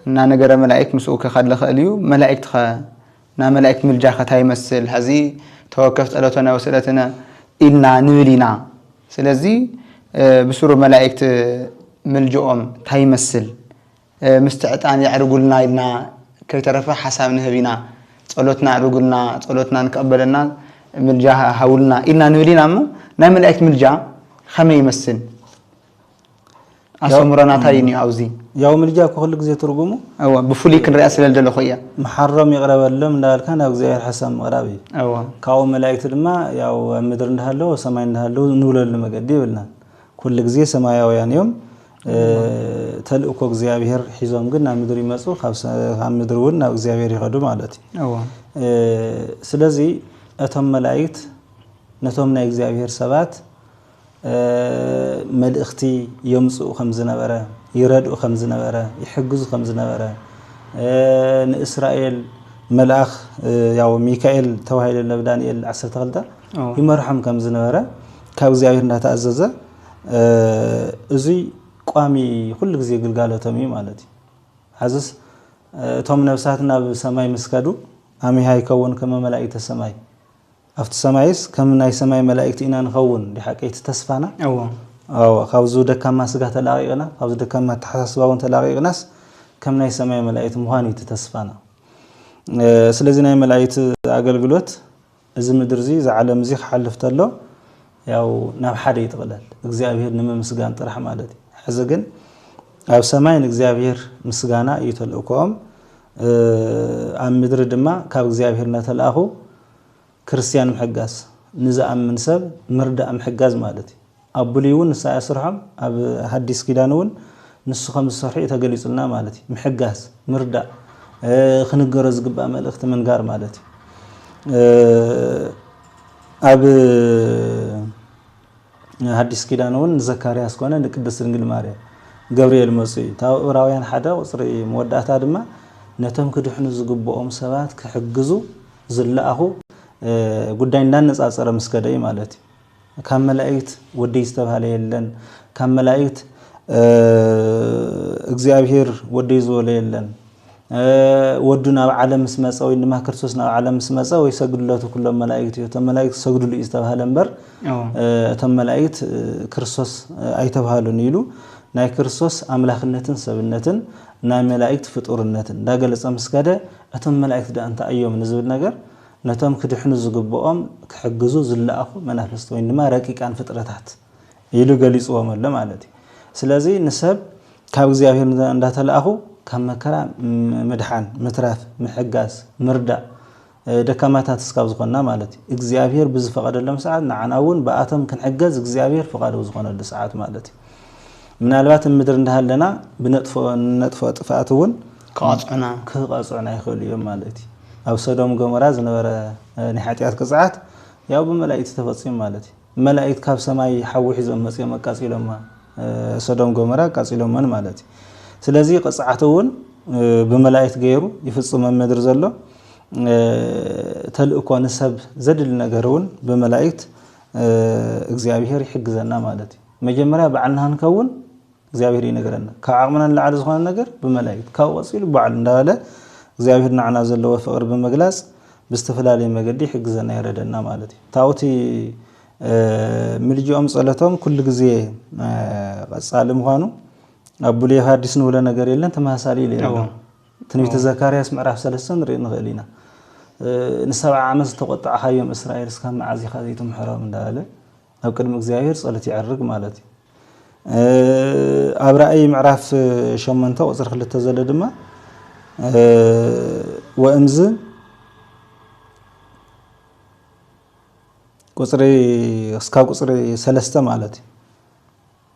እናነገረ መላኢክት ምስኡ ከካድ ለኸእል እዩ። መላኢክት ኸ ናይ መላኢክት ምልጃ ኸ ታይ ይመስል? ሐዚ ተወከፍ ጸሎተነ ወስእለትነ ኢልና ንብል ኢና። ስለዚ ብስሩ መላኢክት ምልጅኦም ታይ ይመስል? ምስቲ ዕጣን የዕርጉልና ኢልና ከይተረፈ ሓሳብ ንህብ ኢና። ጸሎትና ኣዕርጉልና፣ ጸሎትና ንክቕበለና ምልጃ ሃቡልና ኢልና ንብል ኢና እሞ ናይ መላኢክት ምልጃ ኸመይ ይመስል? ኣሰምሮ ናታ እዩ ኒዮ ኣብዚ ያው ምልጃ እኮ ኩሉ ግዜ ትርጉሙ እወ ብፍሉይ ክንሪኣ ስለ ዝደለኹ እያ መሓሮም ይቕረ በሎም እንዳበልካ ናብ እግዚኣብሔር ሓሳብ ምቕራብ እዩ እወ ካብኡ መላእክቲ ድማ ያው ኣብ ምድሪ እንዳሃለዉ ኣብ ሰማይ እንዳሃለዉ ንብለሉ መገዲ የብልናን ኩሉ ግዜ ሰማያውያን እዮም ተልእኮ እግዚኣብሔር ሒዞም ግን ናብ ምድሪ ይመፁ ካብ ምድሪ እውን ናብ እግዚኣብሔር ይኸዱ ማለት እዩ እወ ስለዚ እቶም መላእክት ነቶም ናይ እግዚኣብሔር ሰባት መልእኽቲ የምፅኡ ከምዝነበረ፣ ይረድኡ ከምዝነበረ፣ ይሕግዙ ከምዝነበረ፣ ንእስራኤል መልኣኽ ያው ሚካኤል ተባሂሉ ናብ ዳንኤል 12 ይመርሖም ከምዝነበረ ካብ እግዚኣብሔር እናተኣዘዘ እዙይ ቋሚ ኩሉ ግዜ ግልጋሎቶም እዩ ማለት እዩ ሐዝስ እቶም ነብሳት ናብ ሰማይ ምስ ከዱ ኣሚሃ ይከውን ከመ መላእክተ ሰማይ ኣብቲ ሰማይስ ከም ናይ ሰማይ መላኢክቲ ኢና ንኸውን እንዲዩ ሓቀይ እቲ ተስፋና። እዎ። ኣዎ ካብዙ ደካማ ስጋ ተላቂቅና ካብዙ ደካማ ኣተሓሳስባ እውን ተላቂቅናስ ከም ናይ ሰማይ መላኢቲ ምዃን እዩ እቲ ተስፋና። ስለዚ ናይ መላኢቲ ኣገልግሎት እዚ ምድር እዚ እዚ ዓለም እዚ ክሓልፍ ተሎ ያው ናብ ሓደ ይጥቅለል እግዚኣብሔር ንምምስጋን ጥራሕ ማለት እዩ። ሕዚ ግን ኣብ ሰማይ ንእግዚኣብሔር ምስጋና እዩ ተልእኮኦም ኣብ ምድሪ ድማ ካብ እግዚኣብሔር እናተልኣኹ ክርስትያን ምሕጋዝ ንዝኣምን ሰብ ምርዳእ ምሕጋዝ ማለት እዩ። ኣብ ብሉይ እውን ንሳ እያ ስርሖም ኣብ ሃዲስ ኪዳን እውን ንሱ ከም ዝሰርሑ እዩ ተገሊጹልና ማለት እዩ። ምሕጋዝ ምርዳእ ክንገሮ ዝግባእ መልእኽቲ ምንጋር ማለት እዩ። ኣብ ሓዲስ ኪዳን እውን ንዘካርያስ ኮነ ንቅድስት ድንግል ማርያም ገብርኤል መጹ እዩ። እታ ዕብራውያን ሓደ ቁጽሪ መወዳእታ ድማ ነቶም ክድሕኑ ዝግብኦም ሰባት ክሕግዙ ዝለኣኹ ጉዳይ እንዳነጻጸረ ምስ ከደ እዩ ማለት እዩ። ካብ መላእክት ወደይ ዝተባህለ የለን ካብ መላእክት እግዚኣብሔር ወደይ ዝበሎ የለን ወዱ ናብ ዓለም ምስ መጸ ወይ ድማ ክርስቶስ ናብ ዓለም ምስ መጸ ወይ ሰግድለቱ ኩሎም መላእክት እዩ እቶም መላእክት ዝሰግድሉ እዩ ዝተባህለ እምበር እቶም መላእክት ክርስቶስ ኣይተባህሉን ኢሉ ናይ ክርስቶስ ኣምላኽነትን ሰብነትን ናይ መላእክት ፍጡርነትን እንዳገለጸ ምስ ከደ እቶም መላእክት ደኣ እንታይ እዮም ንዝብል ነገር ነቶም ክድሕኑ ዝግብኦም ክሕግዙ ዝለኣኹ መናፍስቲ ወይ ድማ ረቂቃን ፍጥረታት ኢሉ ገሊጽዎም ኣሎ ማለት እዩ። ስለዚ ንሰብ ካብ እግዚኣብሔር እንዳተላእኹ ካብ መከራ ምድሓን፣ ምትራፍ፣ ምሕጋዝ፣ ምርዳእ ደካማታት እስካብ ዝኾንና ማለት እዩ። እግዚኣብሔር ብዝፈቐደሎም ሰዓት ንዓና እውን ብኣቶም ክንሕገዝ እግዚኣብሔር ፍቓዱ ዝኾነሉ ሰዓት ማለት እዩ። ምናልባት እብ ምድሪ እንዳሃለና ብነጥፍኦ ጥፍኣት እውን ክቐጽዑና ክቐጽዑና ይኽእሉ እዮም ማለት እዩ። ኣብ ሶዶም ጎሞራ ዝነበረ ናይ ሓጢኣት ቅጽዓት ያው ብመላእክቲ ተፈጺሙ ማለት እዩ። መላኢክት ካብ ሰማይ ሓዊ ሒዞም መጺኦም ኣቃጺሎማ ሶዶም ጎመራ ኣቃጺሎመን ማለት እዩ ስለዚ ቅጽዓቱ እውን ብመላኢክት ገይሩ ይፍጽም ኣብ ምድሪ ዘሎ ተልእኮ ንሰብ ዘድሊ ነገር እውን ብመላኢክት እግዚኣብሔር ይሕግዘና ማለት እዩ መጀመርያ ባዕልና ክንከውን እግዚኣብሔር ይነግረና ካብ ዓቅምና ንላዕሊ ዝኮነ ነገር ብመላኢክት ካብኡ ቀጺሉ ባዕሉ እንዳበለ እግዚኣብሔር ናዓና ዘለዎ ፍቅሪ ብምግላጽ ብዝተፈላለየ መገዲ ይሕግዘና የረደና ማለት እዩ ታብኡ እቲ ምልጅኦም ጸሎቶም ኩሉ ግዜ ቀጻሊ ምኳኑ ኣብ ብሉይ ሓዲስ ንብሎ ነገር የለን ተመሳሳሊ ኢሉ ኣሎ ትንቢተ ዘካርያስ ምዕራፍ ሰለስተ ንርኢ ንኽእል ኢና ንሰብዓ ዓመት ዝተቆጣዕካዮም እስራኤል እስካብ መዓዝ ኢኻ ዘይትምሕሮም እንዳበለ ኣብ ቅድሚ እግዚኣብሔር ጸሎት ይዕርግ ማለት እዩ። ኣብ ራእይ ምዕራፍ ሸሞንተ ቁፅሪ ክልተ ዘሎ ድማ ወእምዝ ቁፅሪ እስካብ ቁፅሪ ሰለስተ ማለት እዩ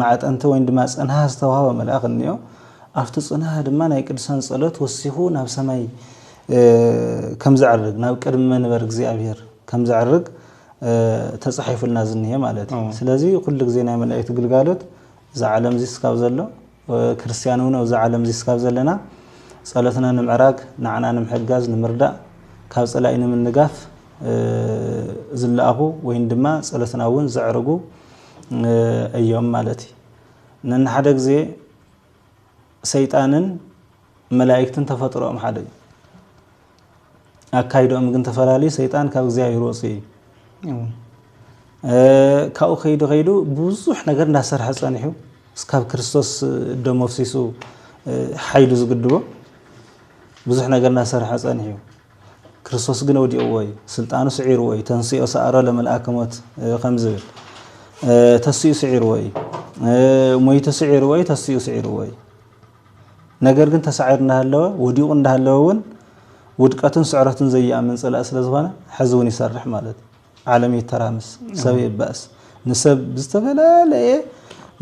ማዕጠንቲ ወይን ድማ ጽንሃ ዝተዋህቦ መልኣኽ እንዮ። ኣብቲ ጽንሃ ድማ ናይ ቅዱሳን ጸሎት ወሲኹ ናብ ሰማይ ከም ዘዕርግ ናብ ቅድሚ መንበር እግዚኣብሔር ከም ዘዕርግ ተጻሒፉልና ዝንሄ ማለት እዩ። ስለዚ ኩሉ ግዜ ናይ መላእክት ግልጋሎት እዚ ዓለም እዚ ስካብ ዘሎ ክርስቲያን እውን ኣብዚ ዓለም እዚ ስካብ ዘለና ጸሎትና ንምዕራግ ንዓና ንምሕጋዝ ንምርዳእ ካብ ጸላኢ ንምንጋፍ ዝለኣኹ ወይን ድማ ጸሎትና እውን ዘዕርጉ እዮም ማለት እዩ ነንሓደ ግዜ ሰይጣንን መላእክትን ተፈጥሮኦም ሓደ እዩ ኣካይዶኦም ግን ተፈላለዩ ሰይጣን ካብ እግዚኣብሔር ወፅ እዩ ካብኡ ከይዱ ከይዱ ብዙሕ ነገር እንዳሰርሐ ፀኒሑ እስካብ ክርስቶስ ደሞ ኣፍሲሱ ሓይሉ ዝግድቦ ብዙሕ ነገር እናሰርሐ ፀኒሑ እዩ ክርስቶስ ግን ወዲቕዎ እዩ፣ ስልጣኑ ስዒርዎ እዩ፣ ተንሥኦ ሰኣሮ ለመልኣከ ሞት ከም ዝብል ተሲኡ ስዒርዎ እዩ፣ ሞይቱ ስዒርዎ እዩ፣ ተሲኡ ስዒርዎ እዩ። ነገር ግን ተሳዒሩ እንዳሃለወ ወዲቑ እንዳሃለወ እውን ውድቀቱን ስዕረቱን ዘይኣምን ጸላእ ስለ ዝኾነ ሕዚ እውን ይሰርሕ ማለት እዩ። ዓለም ይተራምስ፣ ሰብ ይባእስ፣ ንሰብ ብዝተፈላለየ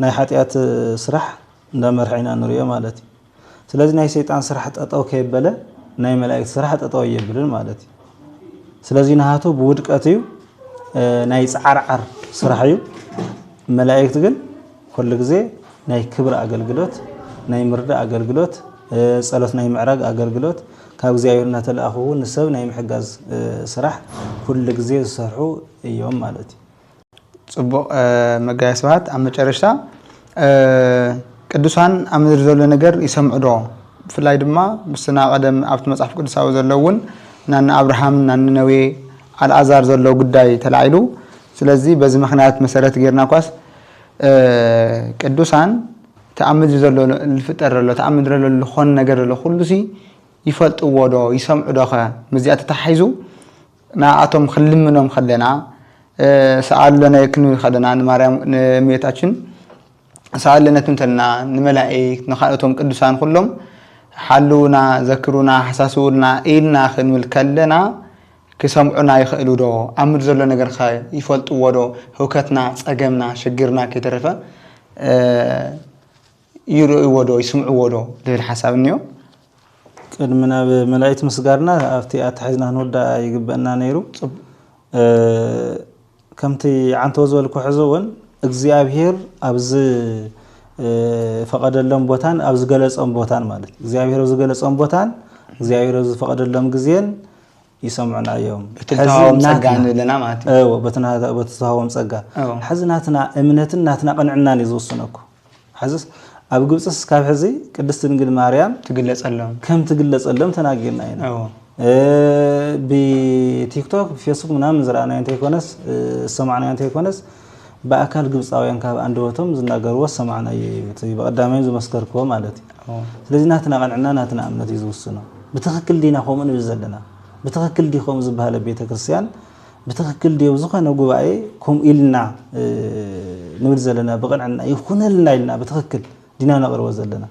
ናይ ሓጢኣት ስራሕ እንዳመርሐ ኢና ንሪኦ ማለት እዩ። ስለዚ ናይ ሰይጣን ስራሕ ጠጠው ከየበለ ናይ መላእክት ስራሕ ጠጠው ኣየብልን ማለት እዩ ስለዚ ናሃቱ ብውድቀት እዩ ናይ ፃዓርዓር ስራሕ እዩ መላእክት ግን ኩሉ ግዜ ናይ ክብሪ ኣገልግሎት ናይ ምርዳእ ኣገልግሎት ፀሎት ናይ ምዕራግ ኣገልግሎት ካብ እግዚኣብሔር እናተለኣኹ ንሰብ ናይ ምሕጋዝ ስራሕ ኩሉ ግዜ ዝሰርሑ እዮም ማለት እዩ ጽቡቅ መጋቤ ስብሃት ኣብ መጨረሽታ ቅዱሳን ኣብ ምድሪ ዘሎ ነገር ይሰምዑ ዶ ብፍላይ ድማ ምስና ቀደም ኣብቲ መጽሓፍ ቅዱሳዊ ዘሎ እውን ናኒ ኣብርሃም ናኒ ነዌ ኣልኣዛር ዘሎ ጉዳይ ተላዒሉ ስለዚ በዚ ምክንያት መሰረት ጌርና እኳስ ቅዱሳን እቲ ኣብ ምድሪ ዘሎ ልፍጠር ዘሎ እቲ ኣብ ምድሪ ዘሎ ልኾን ነገር ዘሎ ኩሉሲ ይፈልጥዎ ዶ ይሰምዑ ዶኸ ምስዚኣ ተተሓሒዙ ንኣኣቶም ክንልምኖም ከለና ሰኣል ለነ ክንብል ከለና ንማርያም ንእመቤታችን ሰኣል ለነ ትንተልና ንመላኢክት ንካልኦቶም ቅዱሳን ኩሎም ሓልዉና ዘክሩና ሓሳስቡልና ኢልና ክንብል ከለና ክሰምዑና ይኸእሉ ዶ ኣብ ምድሪ ዘሎ ነገር ከ ይፈልጥዎ ዶ ህውከትና ጸገምና ሽግርና ከይተረፈ ይርእይዎ ዶ ይስምዕዎ ዶ ልብል ሓሳብ እኒኦ። ቅድሚ ናብ መላኢት ምስጋርና ኣብቲ ኣተሓሒዝና ክንውዳእ ይግበእና ነይሩ። ከምቲ ዓንተቦ ዝበልኩ ሕዚ እውን እግዚኣብሄር ኣብዚ ፈቐደሎም ቦታን ኣብ ዝገለጾም ቦታን ማለት እግዚኣብሄር ኣብ ዝገለጾም ቦታን እግዚኣብሄር ኣብ ዝፈቐደሎም ግዜን ይሰምዑና እዮም በቲ ተሃቦም ጸጋ ንብል ኣለና ማለት እዩ እዎ በቲ ተሃቦም ጸጋ ሕዚ ናትና እምነትን ናትና ቅንዕናን እዩ ዝውስነኩ ሕዚ ኣብ ግብፅስ እስካብ ሕዚ ቅድስት ድንግል ማርያም ትግለጸሎም ከም ትግለጸሎም ተናጊርና ኢና ብቲክቶክ ብፌስቡክ ምናምን ዝረኣናዮ እንተይኮነስ ዝሰማዕናዮ እንተይኮነስ ብኣካል ግብጻውያን ካብ ኣንደበቶም ዝናገርዎ ዝሰማዕናዮ እዩ እቲ ብቀዳማይ ዝመስከርክዎ ማለት እዩ ስለዚ ናትና ቅንዕና ናትና እምነት እዩ ዝውስኖ ብትክክል ዲና ከምኡ ንብል ዘለና ብትክክል ዲዩ ከምኡ ዝበሃል ኣብ ቤተክርስትያን ብትክክል ዲዩ ኣብ ዝኾነ ጉባኤ ከምኡ ኢልና ንብል ዘለና ብቅንዕና ይኹነልና ኢልና ብትክክል ዲና ነቅርቦ ዘለና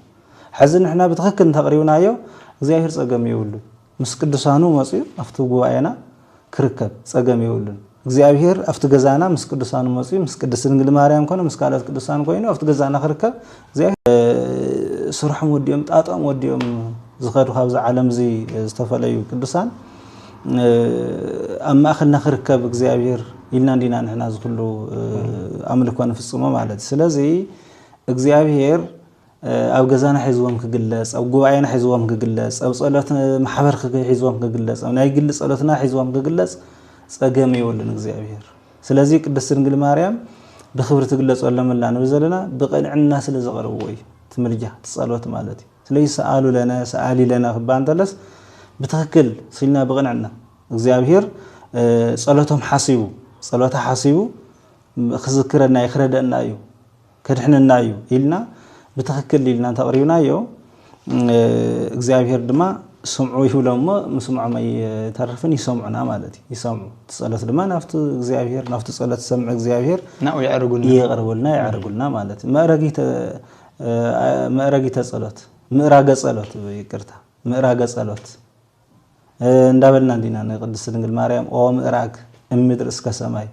ሕዚ ንሕና ብትክክል እንተቅሪብናዮ እግዚኣብሔር ጸገም የብሉን ምስ ቅዱሳኑ መጽዩ ኣብቲ ጉባኤና ክርከብ ጸገም የብሉን። እግዚኣብሔር ኣብቲ ገዛና ምስ ቅዱሳኑ መጽዩ ምስ ቅድስት ድንግል ማርያም ኮነ ምስ ካልኦት ቅዱሳን ኮይኑ ኣብቲ ገዛና ክርከብ እግዚኣብሔር ስርሖም ወዲኦም ጣጦም ወዲኦም ዝኸዱ ካብዚ ዓለም እዚ ዝተፈለዩ ቅዱሳን ኣብ ማእኸልና ክርከብ እግዚኣብሔር ኢልና እንዲና ንሕና ዝኩሉ ኣምልኮ ንፍጽሞ ማለት ስለዚ እግዚኣብሔር ኣብ ገዛና ሒዝዎም ክግለጽ፣ ኣብ ጉባኤና ሒዝዎም ክግለጽ፣ ኣብ ጸሎት ማሕበር ሒዝዎም ክግለጽ፣ ኣብ ናይ ግሊ ጸሎትና ሒዝዎም ክግለጽ ጸገም የብሉን እግዚኣብሔር። ስለዚ ቅድስት ድንግል ማርያም ብክብሪ ትግለጸሎም ኣላ ንብል ዘለና ብቕንዕና ስለ ዘቐርብዎ እዩ። ትምልጃ ትጸሎት ማለት እዩ። ስለዚ ሰኣሉ ለነ ሰኣሊ ለነ ክበሃል እንተለስ ብትክክል ስልና ብቕንዕና እግዚኣብሔር ጸሎቶም ሓሲቡ ጸሎታ ሓሲቡ ክዝክረና እዩ ክረደእና እዩ። ከድሕነና እዩ ኢልና ብትኽክል ኢልና እንተቕሪብናዮ እግዚኣብሄር ድማ ስምዑ ይብሎም እሞ ምስምዖም ኣይተርፍን ይሰምዑና ማለት እዩ ይሰምዑ እቲ ጸሎት ድማ ናብቲ እግዚኣብሄር ናብቲ ጸሎት ዝሰምዕ እግዚኣብሄር ናብኡ የዕርጉልና ይቕርብልና የዕርጉልና ማለት እዩ መእረጊተ መእረጊተ ጸሎት ምእራገ ጸሎት ይቅርታ ምእራገ ጸሎት እንዳበልና እንዲና ንቅድስቲ ድንግል ማርያም ኦ ምእራግ እምድር እስከ ሰማይ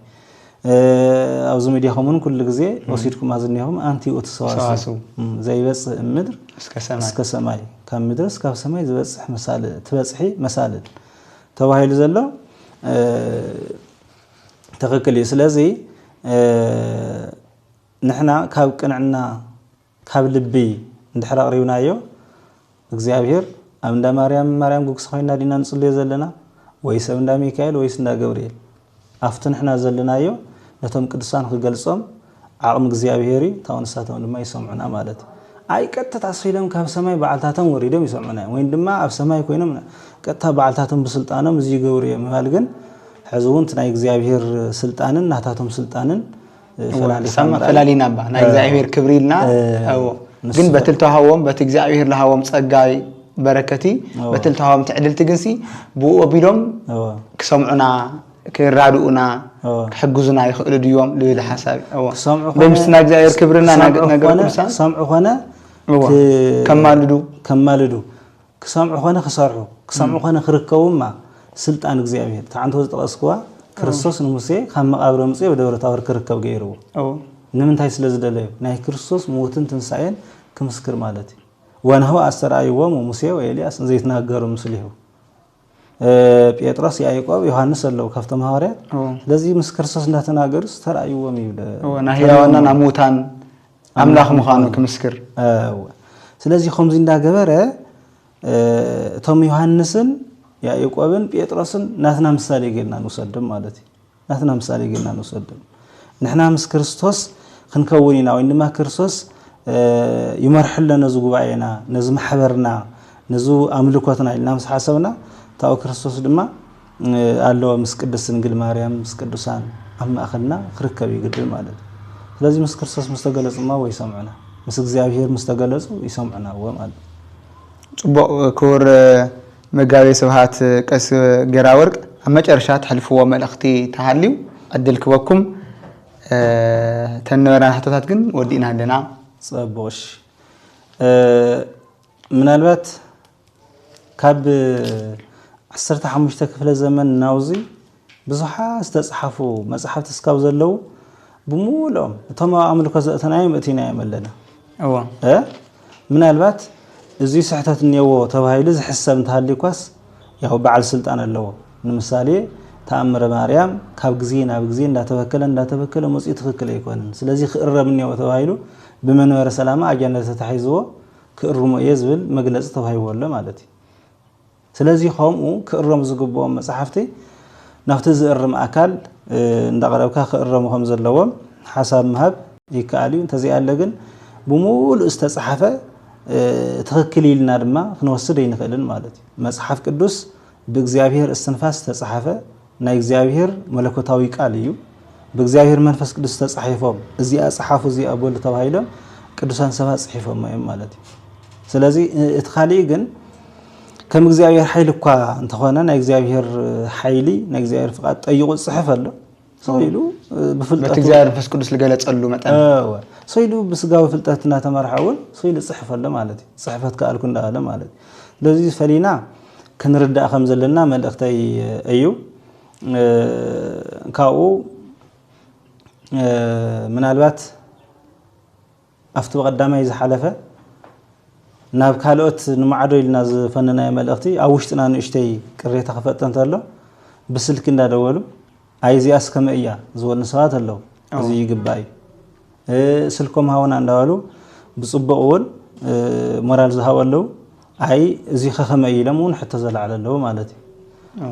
ኣብዚ ሚዲያኹም እውን ኩሉ ግዜ ወሲድኩም ኣዝኒኹም ኣንቲ ውእቱ ሰዋስው ዘይበፅእ እምድር እስከ ሰማይ ካብ ምድርስ ካብ ሰማይ ዝበፅሕ መሳልል ትበፅሒ መሳልል ተባሂሉ ዘሎ ትክክል እዩ። ስለዚ ንሕና ካብ ቅንዕና ካብ ልቢ እንድሕር ኣቕሪብናዮ እግዚኣብሄር ኣብ እንዳ ማርያም ማርያም ጉግስ ኮይና ዲና ንጽልዮ ዘለና ወይስ ኣብ እንዳ ሚካኤል ወይስ እንዳ ገብርኤል ኣብቲ ንሕና ዘለናዮ ነቶም ቅዱሳን ክገልጾም ዓቕሚ እግዚኣብሄር እዩ ታው ንሳቶም ድማ ይሰምዑና ማለት እዩ። ኣይ ቀጥታ ኣስፊሎም ካብ ሰማይ ባዕልታቶም ወሪዶም ይሰምዑና እዮም ወይን ድማ ኣብ ሰማይ ኮይኖም ቀጥታ ባዕልታቶም ብስልጣኖም እዚ ይገብሩ እዮም ምባል ግን ሕዚ እውን እቲ ናይ እግዚኣብሄር ስልጣንን ናታቶም ስልጣንን ፈላሊና እባ ናይ እግዚኣብሔር ክብሪ ኢልና ግን በቲ ልተዋሃቦም በቲ እግዚኣብሔር ልሃቦም ጸጋይ በረከቲ በቲ ልተዋሃቦም ትዕድልቲ ግንሲ ብኡ ኣቢሎም ክሰምዑና ክራድኡና ክሕግዙና ይኽእሉ ድዮም ልብል ሓሳብ ብምስ ናይ እግዚኣብሔር ክብርና ነገሩ ክሰምዑ ኮነ ከማልዱ ከማልዱ ክሰምዑ ኮነ ክሰርሑ ክሰምዑ ኮነ ክርከቡማ ስልጣን እግዚኣብሔር እቲ ዓንተው ዝጠቐስክዋ ክርስቶስ ንሙሴ ካብ መቓብር ኣምፅኡ ኣብ ደብረ ታቦር ክርከብ ገይርዎ ንምንታይ ስለ ዝደለዩ ናይ ክርስቶስ ሞትን ትንሳኤን ክምስክር ማለት እዩ ወናሁ ኣስተርኣይዎሙ ሙሴ ወኤልያስ ዘይትናገሩ ምስሊሁ ጴጥሮስ ያዕቆብ ዮሐንስ ኣለው ካብቶም ሃዋርያት ስለዚ ምስ ክርስቶስ እንዳተናገሩስ ተራእይዎም ይብለ ናህያዋና ናብ ሙታን ኣምላኽ ምዃኑ ክምስክር እወ ስለዚ ከምዚ እንዳገበረ እቶም ዮሃንስን ያዕቆብን ጴጥሮስን ናትና ምሳሌ ጌርና ንውሰድም ማለት እዩ ናትና ምሳሌ ጌርና ንውሰድም ንሕና ምስ ክርስቶስ ክንከውን ኢና ወይ ድማ ክርስቶስ ይመርሐለ ነዚ ጉባኤና ነዚ ማሕበርና ነዚ ኣምልኮትና ኢልና ምስ ሓሰብና ታው ክርስቶስ ድማ ኣለወ ምስ ቅድስት ድንግል ማርያም ምስ ቅዱሳን ኣብ ማእኸልና ክርከብ እዩ ግድን ማለት እዩ። ስለዚ ምስ ክርስቶስ ምስ ተገለጹ እማ ወይ ይሰምዑና ምስ እግዚኣብሔር ምስ ተገለጹ ይሰምዑና እወ ማለት እዩ። ጽቡቕ ክቡር መጋቤ ስብሃት ቀስ ጌራወርቅ ኣብ መጨረሻ ተሕልፍዎ መልእኽቲ ተሃልዩ ዕድል ክበኩም እተን ነበራና ሕቶታት ግን ወዲእና ኣለና። ጸቡቕ እሺ ምናልባት ካብ ዓሰርተ ሓሙሽተ ክፍለ ዘመን ናውዚ ብዙሓት ዝተጽሓፉ መጻሕፍቲ እስካብ ዘለዉ ብምሉኦም እቶም ኣብ ኣምልኮ ዘእተናዮም እቲናዮም ኣለና እዎ ምናልባት እዚ ስሕተት እኔዎ ተባሂሉ ዝሕሰብ እንተሃልዩኳስ ያው በዓል ስልጣን ኣለዎ ንምሳሌ ተኣምረ ማርያም ካብ ግዜ ናብ ግዜ እንዳተበከለ እንዳተበከለ መጽኡ ትክክል ኣይኮነን ስለዚ ክእረም እኔዎ ተባሂሉ ብመንበረ ሰላማ ኣጀንዳ ተታሒዝዎ ክእርሞ እየ ዝብል መግለጺ ተዋሂብዎ ኣሎ ማለት እዩ። ስለዚ ከምኡ ክእረሙ ዝግብኦም መጻሕፍቲ ናብቲ ዝእርም ኣካል እንዳቕረብካ ክእረሙ ከም ዘለዎም ሓሳብ ምሃብ ይከኣል እዩ። እንተዘይኣለ ግን ብምሉእ ዝተጻሕፈ ትኽክል ኢልና ድማ ክንወስድ ኣይንኽእልን ማለት እዩ። መጽሓፍ ቅዱስ ብእግዚኣብሄር እስትንፋስ ዝተጻሕፈ ናይ እግዚኣብሔር መለኮታዊ ቃል እዩ። ብእግዚኣብሔር መንፈስ ቅዱስ ተጻሒፎም እዚኣ ጸሓፉ እዚኣ በሉ ተባሂሎም ቅዱሳን ሰባት ጽሒፎማ እዮም ማለት እዩ። ስለዚ እቲ ካሊእ ግን ከም እግዚኣብሔር ሓይሊ እኳ እንተኾነ ናይ እግዚኣብሔር ሓይሊ ናይ እግዚኣብሔር ፍቃድ ጠይቁ ዝፅሕፍ ኣሎ ሰው ኢሉ ብፍልጠቱ እግዚኣብሔር መንፈስ ቅዱስ ዝገለፀሉ መጠን ሰው ኢሉ ብስጋዊ ፍልጠት እናተመርሐ እውን ሰው ኢሉ ዝፅሕፍ ኣሎ ማለት እዩ ፅሕፈት ከኣልኩ እንዳበለ ማለት እዩ ስለዚ ፈሊና ክንርዳእ ከም ዘለና መልእኽተይ እዩ። ካብኡ ምናልባት ኣብቲ ብቐዳማይ ዝሓለፈ ናብ ካልኦት ንማዕዶ ኢልና ዝፈነናዮ መልእኽቲ ኣብ ውሽጥና ንእሽተይ ቅሬታ ክፈጥር እንተሎ ብስልኪ እንዳደወሉ ኣይ እዚኣስ ከመይ እያ ዝበሉ ሰባት ኣለው እዚ ይግባእ እዩ ስልኮም ሃውና እንዳበሉ ብፅቡቅ እውን ሞራል ዝሃቡ ኣለው ኣይ እዚ ከከመይ ኢሎም እውን ሕቶ ዘላዕለ ኣለው ማለት እዩ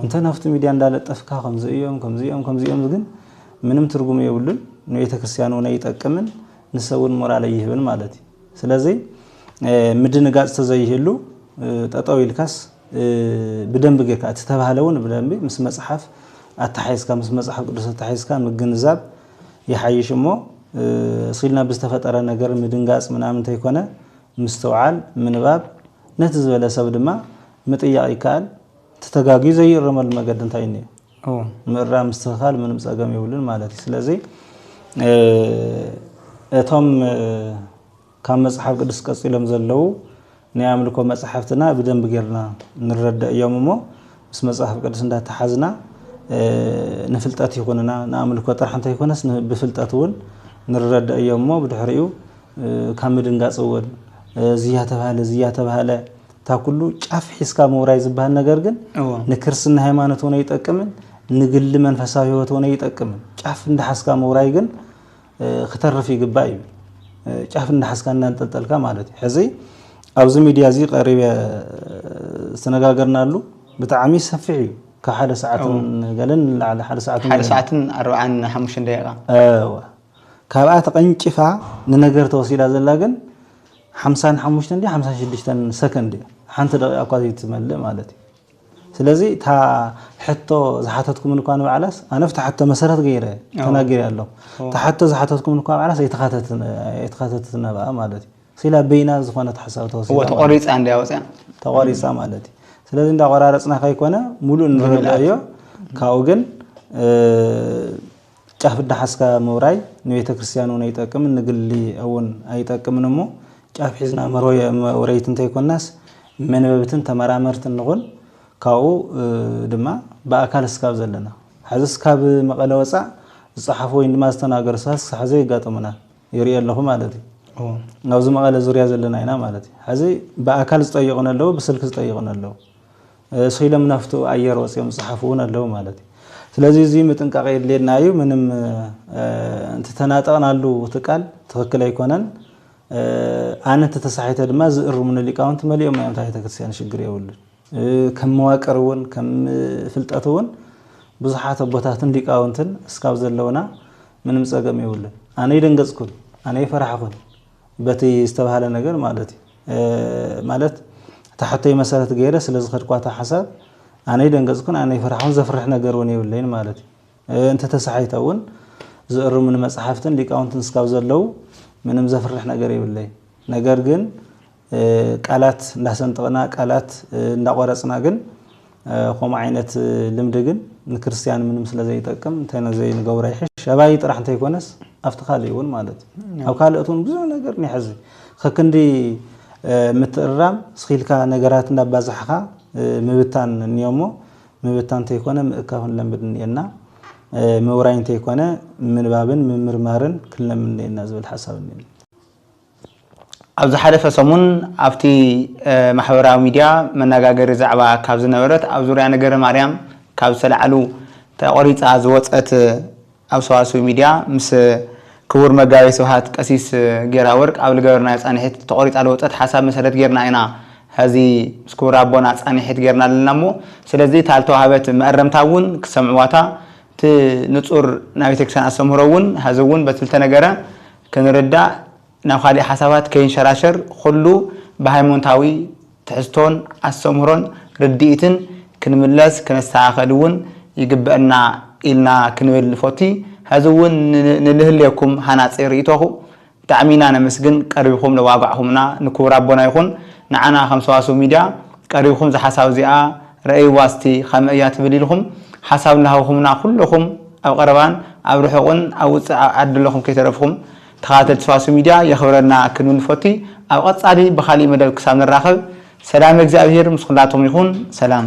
እንተ ናብቲ ሚድያ እንዳለጠፍካ ከምዚ እዮም ከምዚ እዮም ከምዚ እዮም ግን ምንም ትርጉም የብሉን ንቤተ ክርስቲያን እውን ኣይጠቅምን ንሰብ እውን ሞራል ኣይህብን ማለት እዩ ስለዚ ምድንጋፅ ተዘይህሉ ጠጠው ኢልካስ ብደንቢ ጌርካ እቲ ዝተባህለ እውን ብደንቢ ምስ መፅሓፍ ኣተሓሒዝካ ምስ መፅሓፍ ቅዱስ ኣተሓሒዝካ ምግንዛብ ይሓይሽ እሞ እስኪ ኢልና ብዝተፈጠረ ነገር ምድንጋፅ ምናምን እንተይኮነ ምስትውዓል ምንባብ ነቲ ዝበለ ሰብ ድማ ምጥያቕ ይከኣል እቲ ተጋግዩ ዘይእረመሉ መገዲ እንታይ እኒኦ ምእራም ምስትኽኻል ምንም ፀገም የብሉን ማለት እዩ ስለዚ እቶም ካብ መጽሓፍ ቅዱስ ቀጺሎም ዘለዉ ናይ ኣምልኮ መጻሕፍትና ብደንቢ ጌርና ንረደእ እዮም እሞ ምስ መጽሐፍ ቅዱስ እንዳተሓዝና ንፍልጠት ይኹንና ንኣምልኮ ጥራሕ እንተይኮነስ ብፍልጠት እውን ንረደእ እዮም እሞ ብድሕሪኡ ካብ ምድንጋጽ እውን እዚያ ተባህለ እዚያ ተባህለ እታ ኩሉ ጫፍ ሒዝካ ምውራይ ዝበሃል ነገር ግን ንክርስትና ሃይማኖት እውን ኣይጠቅምን ንግሊ መንፈሳዊ ህይወት እውን ኣይጠቅምን ጫፍ እንዳሓዝካ ምውራይ ግን ክተርፍ ይግባእ እዩ ጫፍ እናሓዝካ እናንጠልጠልካ ማለት እዩ ሕዚ ኣብዚ ሚድያ እዚ ቀሪበ ዝተነጋገርናሉ ብጣዕሚ ሰፊሕ እዩ ካብ ሓደ ሰዓትን ገለን ንላዕሊ ሓደ ሰዓትን ሓደ ሰዓትን ኣርባዓን ሓሙሽተን ደቂቃ ካብኣ ተቐንጭፋ ንነገር ተወሲዳ ዘላ ግን ሓምሳን ሓሙሽተን ሓምሳን ሽዱሽተን ሰከንድ እያ ሓንቲ ደቂቃ እኳ ዘይትመልእ ማለት እዩ ስለዚ እታ ሕቶ ዝሓተትኩምኒ እኳ ንባዕላስ ኣነ ኣብቲ ሕቶ መሰረት ገይረ ተናጊረ ኣለኹ እታ ሕቶ ዝሓተትኩምኒ እኳ ባዕላስ ኣይተኻተተትን ናብኣ ማለት እዩ ስኢላ በይና ዝኾነት ሓሳብ ተወሲዳ ተቆሪፃ እንድያ ወፅያ ተቆሪፃ ማለት እዩ ስለዚ እንዳቆራረፅና ከይኮነ ሙሉእ ንርድኦ እዮ ካብኡ ግን ጫፍ እዳሓዝካ ምውራይ ንቤተ ክርስትያን እውን ኣይጠቅምን ንግሊ እውን ኣይጠቅምን እሞ ጫፍ ሒዝና መውረይቲ እንተይኮናስ መንበብትን ተመራመርትን ንኹን ካብኡ ድማ ብኣካል እስካብ ዘለና ሐዚ እስካብ መቐለ ወፃእ ዝፀሓፉ ወይ ድማ ዝተናገሩ ሰባት ክሳብ ሐዚ የጋጥሙና ይሪኦ ኣለኹ ማለት እዩ ኣብዚ መቐለ ዙርያ ዘለና ኢና ማለት እዩ ሐዚ ብኣካል ዝጠይቁን ኣለዉ ብስልኪ ዝጠይቁን ኣለዉ ስኢሎም ናፍቱ ኣየር ወጺኦም ዝጸሓፉ እውን ኣለዉ ማለት እዩ። ስለዚ እዚ ምጥንቃቕ የድልየና እዩ። ምንም እቲ ተናጠቕናሉ እቲ ቃል ትኽክል ኣይኮነን። ኣነ እንተተሳሒተ ድማ ዝእርሙኒ ሊቃውንቲ መሊኦም እዮም ኣብታ ቤተክርስትያን ሽግር የብሉን። ከም መዋቅር እውን ከም ፍልጠት እውን ብዙሓት ኣቦታትን ሊቃውንትን እስካብ ዘለውና ምንም ጸገም የብሉን። ኣነ ኣይደንገጽኩን ኣነ ኣይፈራሕኹን። በቲ ዝተብሃለ ነገር ማለት እዩ ማለት እታ ሕቶይ መሰረት ገይረ ስለ ዝኸድኳ እታ ሓሳብ ኣነ ኣይደንገጽኩን ኣነ ኣይፈራሕኹን ዘፍርሕ ነገር እውን የብለይን ማለት እዩ እንተተሳሒተ እውን ዝእርሙኒ መጽሓፍትን ሊቃውንትን እስካብ ዘለው ምንም ዘፍርሕ ነገር የብለይ ነገር ግን ቃላት እንዳሰንጠቕና ቃላት እንዳቆረፅና ግን ከምኡ ዓይነት ልምዲ ግን ንክርስትያን ምንም ስለ ዘይጠቅም እንታይ ነዘይ ንገብሮ ይሕሽ ኣባይ ጥራሕ እንተይኮነስ ኣብቲ ካልእ እውን ማለት እዩ ኣብ ካልኦት እውን ብዙሕ ነገር ንሕዚ ከክንዲ ምትእርራም ስኺልካ ነገራት እንዳባዛሕኻ ምብታን እኒኦ እሞ ምብታን እንተይኮነ ምእካብ ክንለምድ እኒኤና ምውራይ እንተይኮነ ምንባብን ምምርማርን ክንለምድ እኒኤና ዝብል ሓሳብ እኒኤኒ። ኣብ ዝሓለፈ ሰሙን ኣብቲ ማሕበራዊ ሚድያ መነጋገሪ ዛዕባ ካብ ዝነበረት ኣብ ዙርያ ነገረ ማርያም ካብ ዝተላዕሉ ተቖሪፃ ዝወፀት ኣብ ሰዋስው ሚድያ ምስ ክቡር መጋቤ ስብሃት ቀሲስ ጌራወርቅ ኣብ ልገበርናዮ ፃኒሒት ተቖሪፃ ልወፀት ሓሳብ መሰረት ጌርና ኢና ሀዚ ምስ ክቡር ኣቦና ፃኒሒት ጌርና ለና እሞ ስለዚ እታ ልተዋህበት መእረምታ እውን ክሰምዕዋታ እቲ ንፁር ናይ ቤተክርስቲያን ኣስተምህሮ እውን ሀዚ እውን በቲ ልተነገረ ክንርዳእ ናብ ካሊእ ሓሳባት ከይንሸራሸር ኹሉ ብሃይሞንታዊ ትሕዝቶን ኣስተምህሮን ርድኢትን ክንምለስ ክነስተኻኸል እውን ይግበእና ኢልና ክንብል ንፎቲ ሀዚ እውን ንልህሌኩም ሃናፂ ርኢቶኹ ብጣዕሚ ኢና ነመስግን ቀሪብኹም ለዋጋዕኹምና ንኩቡር ኣቦና ይኹን ንዓና ከም ሰዋስው ሚድያ ቀሪብኹም ዛሓሳብ እዚኣ ረኣይዋ እስቲ ከመይ እያ ትብል ኢልኩም ሓሳብ እናሃብኩምና ኩለኩም ኣብ ቀረባን ኣብ ርሑቅን ኣብ ውጽእ ኣብ ዓዲ ለኩም ከይተረፍኩም ተከታተልቲ ሰዋስው ሚድያ የክብረልና ክንብል ንፈቱ ኣብ ቀጻሊ ብካሊእ መደብ ክሳብ ንራከብ ሰላመ እግዚኣብሄር ምስ ኩላትኩም ይኩን ሰላም።